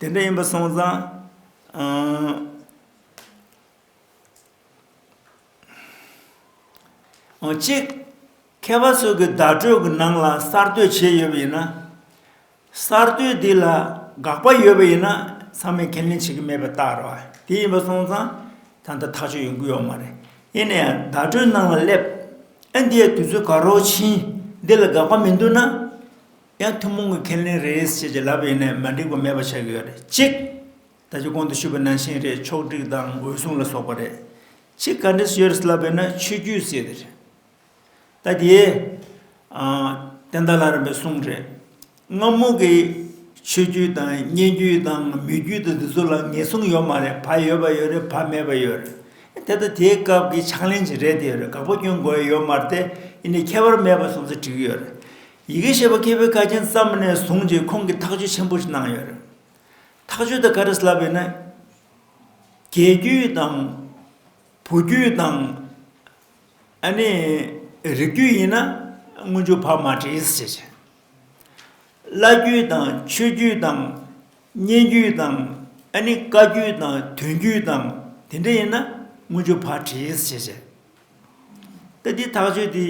དེ་འདྲ་ཡིན་པ་སོང་ཙང། གཅིག། མཁས་པ་ཚོས་གི་བརྡ་སྤྲོད་གི་ནང་ལ་གསར་གཏོད་བྱས་ཡོད་པ་ཡིན་ན། གསར་གཏོད་དེ་ལ་དགག་པ་ཡོད་པ་ཡིན་ན་ཚང་མས་ཁས་ལེན་བྱེད་ཀྱི་མེད་པ་ལྟར་རོ། དེ་ཡིན་པ་སོང་ཙང་ད་ལྟ་ཐག་གཅོད་ཡོང་གི་ཡོད་མ་རེད། ཡིན་ནའང་བརྡ་སྤྲོད་ནང་ལ་སླེབས། ཨིན་དི་ཡའི་དུས་ཚོད་ག་རོག་ཕྱིན། འདི་ལ་དགག་པ་མི་འདུག་ན། ཡང་ཐུན་མོང་གི་ཁས་ལེན་རེད་ཅེས་ཀྱི་ལབ་པའི་ཡིན་ནའི་མ་འགྲིག་པ་མེད་པ་ཆགས་ཀྱི་ཡོད་རེད་གཅིག། ད་ཆ་གོང་དུ་ཞུས་པའི་ནང་བཞིན་རེད་ཕྱོགས་བསྒྲིགས་དང་འོད་སྲུང་ལ་སོགས་པ་རེད། གཅིག་ག་འདྲས་སུ་ཡོད་རེད་ལབ་པའི་ན་ཆོས་བརྒྱུད་ཟེར་དེ་རེད། ད་དེའི། བསྟན་དར་ལ་རམ་པའི་གསུང་རེད། སྔ་མོ་གི་ཆོས་བརྒྱུད་དང་སྙན་བརྒྱུད་དང་མི་བརྒྱུད་དང་དེ་ཚོ་ལ་ངེས་བཟུང་ཡོད་མ་རེད་བག་ཡོད་པ་ཡོད་རེད་བག་མེད་པ་ཡོད་རེད། དེ་ལྟ་དེའི་སྐབས་ཀྱི་ཕྱག་ལེན་ཅིག་རེད་དེ་ཡོད་རེད་དགག་པ་སྐྱོན་དགོས་ཡོད་མ་རེད་དེ་ཡིན་ནའི་ཁྱད་པར་མེད་པ་སོང་ཚེ་འགྲིག་གི་ཡོད་རེད། ཡི་གེ་ཤེས་པ་སྐྱེས་བུའི་ཁ་རྒྱན་བརྩམས་ནས་བཟུང་རྗེས་ཁོང་གིས་ཐག་གཅོད་ཆེན་པོ་ཞིག་གནང་ཡོད་རེད། ཐག་གཅོད་དེ་ག་རེ་ལབ་ཡོད་ན། རྒྱལ་རྒྱུད་དང། བུ་རྒྱུད་དང། ཨ་ནི། རིགས་རྒྱུད་ཡིན་ན་དངོས་འབྱོར་བག་མ་བྲིས་ཟེར་བྱས། བླ་རྒྱུད་དང་ཆོས་རྒྱུད་དང། སྙན་རྒྱུད་དང་ཨ་ནི་བཀའ་རྒྱུད་དང་དོན་རྒྱུད་དང་དེ་འདྲ་ཡིན་ན་དངོས་འབྱོར་བག་བྲིས་ཟེར་བྱས། ཏེ་དེའི་ཐག་གཅོད་དེ་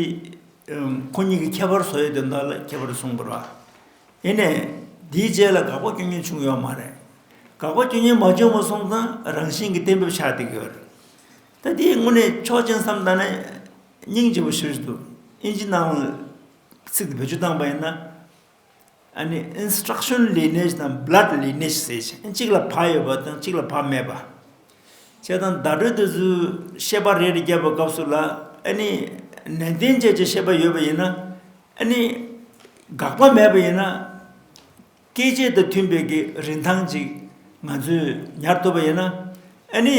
ཁོ་གཉིས་ཀྱི་ཁྱད་པར་བཟོ་ཡི་དོན་དག་ལ་ཁྱད་པར་གསུངས་པར། ཡེ་ནས་དེའི་རྗེས་ལ་དགག་པ་སྐྱོན་ཉོན་བྱུང་ཡོད་མ་རེད། དགག་པ་སྐྱོན་ཉོན་མ་བྱུང་བ་སོང་ཙང་རང་བཞིན་གྱི་གཏན་འབེབས་ཆགས་བསྡད་ཡོད། ད་དེའི་སྔོན་ནས་ཆོག་མཆན་བསམ་གཏང་ན་སྙིང་རྗེ་བོ་ཞུ་རེ་འདུག་ཨིན་ཇི་ནང་ལ་ཚིག་འདི་བེད་སྤྱོད་བཏང་པ་ཡིན་ན། Instruction Lineage དང Blood Lineage ཟེར་ཞིང་གཅིག་ལ་ཕ་ཡོད་པ་དང་གཅིག་ལ་ཕ་མེད་པ། བྱས་དང་བརྡ་སྤྲོད་དུ་བཤད་པ་རེ་རེ་བརྒྱབ་པའི་སྐབས་སུ་ལ་ནན་ཏན་བཅས་ཀྱི་བཤད་པ་ཡོད་པ་ཡིན་ན། དགག་པ་མེད་པ་ཡིན་ན། སྐད་བཅས་དང་མཐུན་པའི་གི་རིན་ཐང་ཅིག་ང་ཚོས་ཉར་ཐུབ་པ་ཡིན་ན།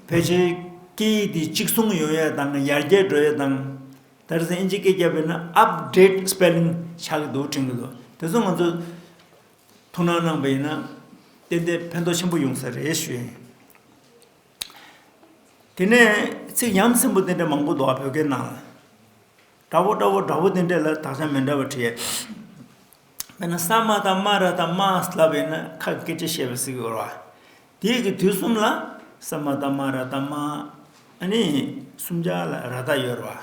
ཕལ་ཆེར་སྐད་ཡིག་འདི་གཅིག་མཚུངས་ཡོང་ཡ་དང་ཡར་རྒྱས་འགྲོ་ཡ་དང་དེར་ཟིན་ཨིན་ཇི་སྐད་རྒྱབ་པའི་ནང Update Spelling ཆགས་ཀྱི་འདུག་དྲན་གྱི་འདུག་དེ་ཚོ་ང་ཚོས་ཐུགས་སྣང་གནང་པ་ཡིན་ན་ཏན་ཏན་ཕན་ཐོགས་ཆེན་པོ་ཡོང་ས་རེད་ཞུ་ཡི་ཡིན། དེ་ནས་ཚིག་ཡམ་སྲིན་པོ་དེ་འདྲ་མང་པོ་འདུག་ཨ་བོད་སྐད་ནང་ལ། དགྲ་བོ་དགྲ་བོ་དགྲ་བོ་དེ་འདྲ་ལ་དག་ཆ་མི་འདྲ་བ་བྲིས། དཔེར་ན་ས་མ་དང་རྨ་ར་དང་རྨ་ཨ་སླ་བས་ན་ཁ་སྐད་ཅེས་བཤད་པའི་སྲིད་འོར་བ། དེའི་གི་དུས་གསུམ་ལ་ས་མ་དང་རྨ་ར་དང་རྨ་ཨ་ནི་སུམ་ཆ་ལ་ར་དག་ཡོར་བ།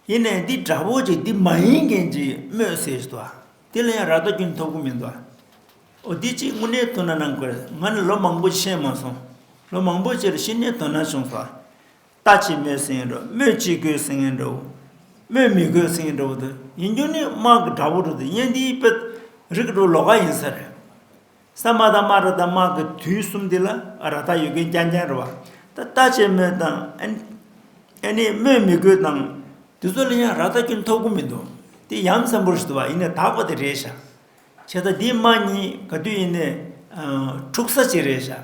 ཡེ་ནས་འདི་དགྲ་བོ་ཅིག་འདི་མ་ཡིན་མཁན་ཅིག་སྨོས་ཟེར་བ། དེ་ལ་ཡང་ར་དག་རྒྱུན་ཐོབ་གི་མི་འདུག་ཨོ་དེ་ཅིག་དངོས་གནས་དོ་ན་ནང་དགོས་ང་ནི་ལོ་མང་པོ་ཤེས་མ་སོང་ལོ་མང་པོ་ཕྱིར་ཕྱི་ནས་དོ་ན་བྱུང་བ། ལྟ་ཅི་སྨོས་སེང་གེ་འདྲ་བོ་སྨོས་ཅི་དགོས་སེང་གེ་འདྲ་བོ། སྨོས་མི་དགོས་སེང་གེ་འདྲ་བོ་དང་ཡིན་རྒྱུ་ནི་དམག་གི་དགྲ་བོ་རུ་དང་གཉེན་སྡེའི་དཔེ་རིགས་འགྲོ་ལོག་ག་ཡིན་ས་རེད། ས་དམག་དང་དམག་ར་དང་དམག་གི་དུས་གསུམ་འདི་ལ་ར་ཐག་ཡོད་མཁན་རྐྱང་རྐྱང་རེད་བ། ད་ལྟ་ཅི་སྨོས་དང་ཨེ་ནས་སྨོས་མི་དགོས་དང། དེ་ཚོ་ལ་ཡང་ར་ཐག་སྐྱོན་ཐོབ་གི་མི་འདུག་དེ་ཡ་མཚན་པོ་རེད་བ་ཡིན་ནས་དག་པ་དེ་རེད་ཤག། ཁྱེད་ད་འདི་དམག་གཉིས་ག་དུས་ཡིན་ནས་འཁྲུག་ས་ཅིག་རེད་ཤག།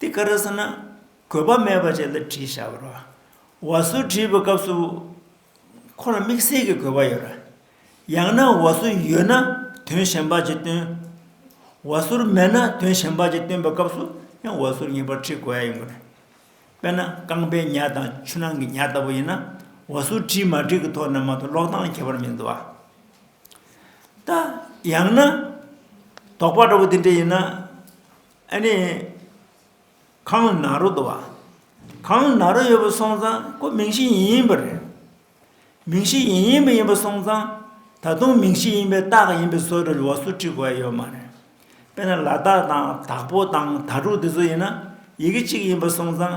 དེ་ག་རེ་ཟེར་ན། གོས་པ་མེད་པ་བཅས་ལ་བྲིས་བཞག་པ་རེད། བ་སོ་བྲིས་པའི་སྐབས་སུ། ཁོ་ལ་དམིགས་བསལ་གྱི་གོས་པ་ཡོད་རེད། ཡང་ན་བ་སོ་ཡོད་ན་དོན་གཞན་པ་ཅིག་སྟོན། བ་སོར་མེད་ན་དོན་གཞན་པ་ཅིག་སྟོན་པའི་སྐབས་སུ་ཡང་བ་སོར་ངེས་པར་བྲིས་དགོས་ཡ་ཡིན་དགོས་རེད། དཔེར་ན་རྐང་པའི་ཉྭ་དང་ཆུ་ནང་གི་ཉྭ་ལྟ་བུ་ཡིན་ན། བ་སོ་བྲིས་མ་བྲིས་ཀྱི་ཐོག་ནས་མ་གཏོགས་ཀློག་སྟངས་ཁྱད་པར་མི་འདུག་ཨ། ད་ཡང་ན། དོགས་པ་འདྲ་བོ་དེ་འདྲ་ཡིན་ན། ཨ་ནི། གང་ན་རོ་འདུག་བ། གང་ན་རོ་ཡོད་པ་སོང་ཙང་ཁོ་མིང་གཞི་ཡིན་ཡིན་པ་རེད། མིང་གཞི་ཡིན་ཡིན་པ་ཡིན་པ་སོང་ཙང་ད་དུང་མིང་གཞི་ཡིན་པའི་རྟགས་ཡིན་པའི་བཟོ་རེ་ལོགས་སུ་བྲིས་དགོས་ཡ་ཡོད་མ་རེད། དཔེར་ན་ལ་དྭགས་དང་དྭགས་པོ་དང་དྭ་ཕྲུག་དེ་ཚོ་ཡིན་ན་ཡི་གེ་གཅིག་ཡིན་པ་སོང་ཙང།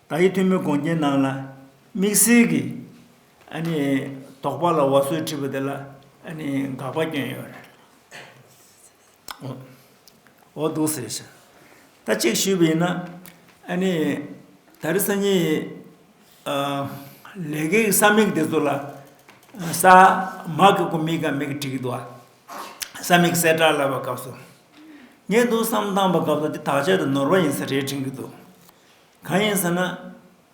ད་ཡིག་ཐུང་མོའི་གོང་རྒྱན་ནང་ལ་དམིགས་བསལ་གྱི་ཨ་ནི་དོགས་པ་ལ་བ་སོའི་ཁྲིད་པ་དེ་ལ་ཨ་ནི་དགག་པ་བསྐྱོན་ཡོད་རེད། འོ་འདུག་ཟེར་ཞིང། ད་ཅིག་ཞུས་པ་ཡིན་ན་ཨ་ནི་ད་རི་སང་ཉིན་ཡི་ལས་ཀའི་ས་མིག་དེ་ཚོ་ལ་ས་མག་གི་གོ་མིག་ག་མེད་ཀི་དྲི་གི་འདུག་ཨ་ས་མིག་གསལ་བསྒྲགས་ལབ་པ་སྐབས་སུ་ངས་འདུག་བསམ་བཏང་པ་སྐབས་སུ་དེ་དག་ཆ་དུ་ནོར་བ་ཡིན་ས་རེད་དྲན་གི་འདུག། གང་ཡིན་ཟེར་ན།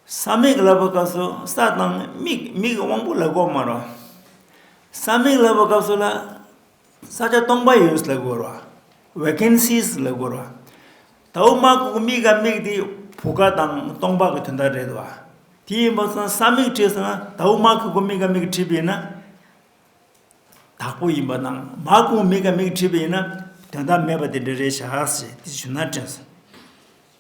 ས་མིག་ལབ་པ་སྐབས་སུ་ས་དང་མིག་མིག་གི་དབང་པོ་ལ་གོ་མ་རུང། ས་མིག་ལབ་པ་སྐབས་སུ་ལ་ས་ཆ་སྟོང་པ་ཡོད་ལ་གོ་རུང Vacancies ལ་གོ་རུང། ད་འོ་མ་ཁོ་གི་མིག་ག་མིག་དེ་བུ་ག་དང་སྟོང་པ་གི་དོན་དག་རེད་བ། དེ་ཡིན་པ་ས་ས་མིག་བྲིས་ཟེར་ན་ད་འོ་མ་ཁོ་གི་མིག་ག་མིག་བྲིས་པས་ན་དག་པོ་ཡིན་པ་དང་མ་ཁོ་གི་མིག་ག་མིག་བྲིས་པས་ན་དོན་དག་མེད་པ་དེ་འདྲ་རེད་བྱ་ཞེས་དེ་ཞུ་ན་དྲན་སོང།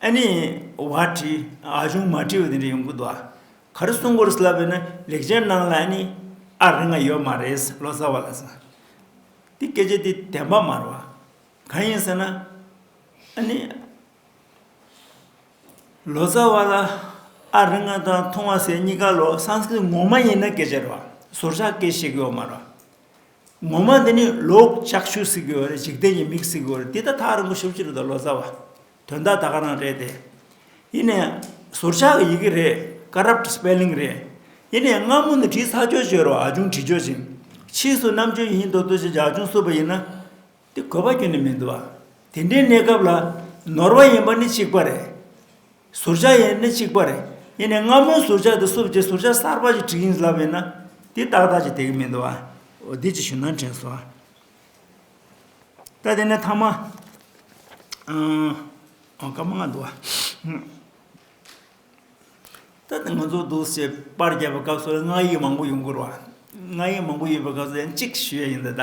ཨ་ནི་བ་བྲི། ཨ་ཆུང་མ་བྲི་བ་དེ་འདྲ་ཡོང་གི་འདུག་ཨ། ག་རེ་གསུང་གོ་རེ་ལབ་པས་ན་ལེགས་སྦྱར་ནང་ལ་ཨ་ནི་ཨ་རེ་འགའ་ཡོད་མ་རེད་ལོ་ཙཱ་བ་ལ་སོང། དེ་སྐད་ཆ་དེ་བདེན་པ་མ་རེད་བ། གང་ཡིན་ཟེར་ན། ཨ་ནི། ལོ་ཙཱ་བ་ལ་ཨ་རེ་འགའ་དང་ཐུང་བ་ཟེར་གཉིས་ཀ་ལོ་སངས་སྐྲིད་ངོ་མ་ཡིན་ན་སྐད་ཆ་རེད་བ། ཟུར་ཆག་སྐད་ཤེས་གི་ཡོད་མ་རེད་བ། ངོ་མ་འདི་ནི་ལོག་ལྕགས་ཤུག་བསྲེགས་པའི་འོ་རེད་འཇིག་རྟེན་གྱི་མིག་བསྲེགས་པའི་འོ་རེད་འདི་ད་ཐག་རིན་པོ་ཆེ་ཕྱི་རུ་དང་ལོ་ཙཱ་བ་དོན་དག་ད་ག་རང་རེད་དེ། ཡིན་ནས་ཟུར་ཆག་གི་ཡི་གེ་རེད Corrupt Spelling རེད། ཡིན་ནས་སྔ་མོ་ནས་བྲིས་ཚར་ཆོས་ཆོས་རོགས་ཨ་ཅུང་བྲིས་ཆོས་ཅིག། ཕྱིས་སུ་རྣམ་དཔྱོད་ཡིན་མདོག་མདོག་བྱེད་ཀྱི་ཨ་ཅུང་བསུབ་པ་ཡིན་ན། དེ་དགོས་པ་ཁྱོན་ནས་མི་འདུག་ཨ། དེ་འདྲའི་གནས་སྐབས་ལ། ནོར་བ་ཡིན་པ་ནི་གཅིག་པ་རེད། ཟུར་ཆག་ཡིན་ནི་གཅིག་པ་རེད། ཡིན་ནའི་སྔ་མོའི་ཟུར་ཆག་དེ་བསུབ་རྗེས་ཟུར་ཆག་གསར་པ་ཞིག་བྲིས་ཡིན་ལབ་ཡོད་ན། དེ་ཏག་ཏག་ཅིག་དེ་གི་མི་འདུག་ཨ། འོ་དེ་ཅིག་ཞུ་ན་དྲན་སོང་ཨ། ད་དེ་ནས་ཐ་མ། འོ་སྐར་མ་ལྔ་འདུག་ཨ། ད་དེ་ང་ཚོ་འདུག་སའི་པར་རྒྱབ་པའི་སྐབས་སུ་ལ་སྔགས་ཡིག་མང་པོ་ཡོང་གི་རེད། སྔགས་ཡིག་མང་པོ་ཡོད་པའི་སྐབས་སུ་ཡང་གཅིག་ཞུ་ཡ་ཡིན་ད་ལྟ།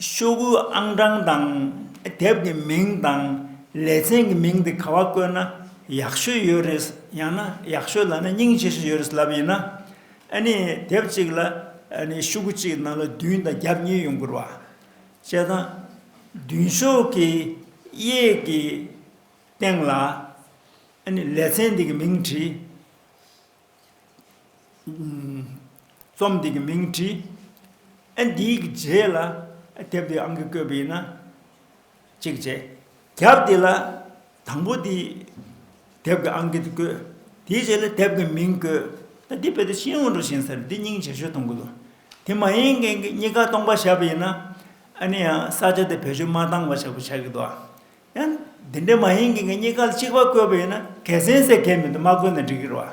ཤོག་བུའི་ཨང་གྲངས་དང་དེབ་ཀྱི་མིང་དང་ལེ་ཚན་གྱི་མིང་དེ་ག་བ་བཀོད་ན་ཡག་ཤོས་ཡོད་རེད་ཡང་ན་ཡག་ཤོས་ལ་ན་སྙིང་ཆེ་ཤོས་ཡོད་རེད་ལབ་ཡིན་ན་ཨ་ནི་དེབ་གཅིག་ལ་ཨ་ནི་ཤོག་བུ་གཅིག་གི་ནང་ལ་བདུན་དང་རྒྱབ་གཉིས་ཡོང་དགོས་ར་བ་བྱས་ཙང་མདུན་ཤོག་གི་གཡས་ཀྱི་སྟེང་ལ་ཨ་ནི་ལེ་ཚན་དེ་གི་མིང་བྲིས། རྩོམ་འདི་གི་མིང་བྲིས་ཨེ་འདིའི་གི་རྗེས་ལ་དེབ་འདི་ཨང་ཀི་བཀོད་པའི་ན་གཅིག་རྗེས་རྒྱབ་འདི་ལ་དང་པོ་འདི་དེབ་གི་ཨང་ཀི་དུ་བཀོད་དེའི་རྗེས་ལ་དེབ་གི་མིང་བཀོད་ཨེ་འདི་བོད་དུ་ཤིང་འུར་འུར་བཞིན་ཟེར་འདི་སྙིང་རྗེ་ཤོས་གཏོང་དགོས་ལོ་དེ་མ་ཡིན་མཁན་གི་གཉིས་ཀ་སྟོང་པ་བཞག་པའི་ན་ཨེ་ནི་ཡང་ས་ཆ་དེ་བེད་སྤྱོད་མ་བཏང་བ་བྱ་དགོས་བྱ་གི་འདུག་ཨ་ཡང་འདི་འདྲའི་མ་ཡིན་གྱི་ངས་རྙེད་དཀའ་ལ་གཅིག་པ་བཀོད་པ་ཡིན་ན་གལ་སྲིད་ཟེར་མཁན་མི་འདུག་མ་བཀོད་ན་འགྲིག་གི་རེད་བ།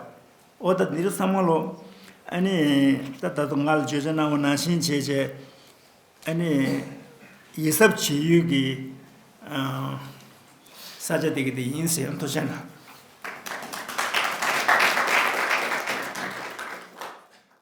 ཨོ་ད་འདི་རུ་ཚང་མ་ལོག། ཨ་ནི། ད་ད་དུང་ང་ལ་བརྗོད་བྱ་སྣང་བ་ནང་བཞིན་བྱས་བྱས། ཨ་ནི། ཡིད་གཟབ་བྱེད་ཡུལ་གྱི། ས་ཆ་དེ་གི་དེ་ཡིན་ཟེར་ཡང་དོགས་ཆ་མེད།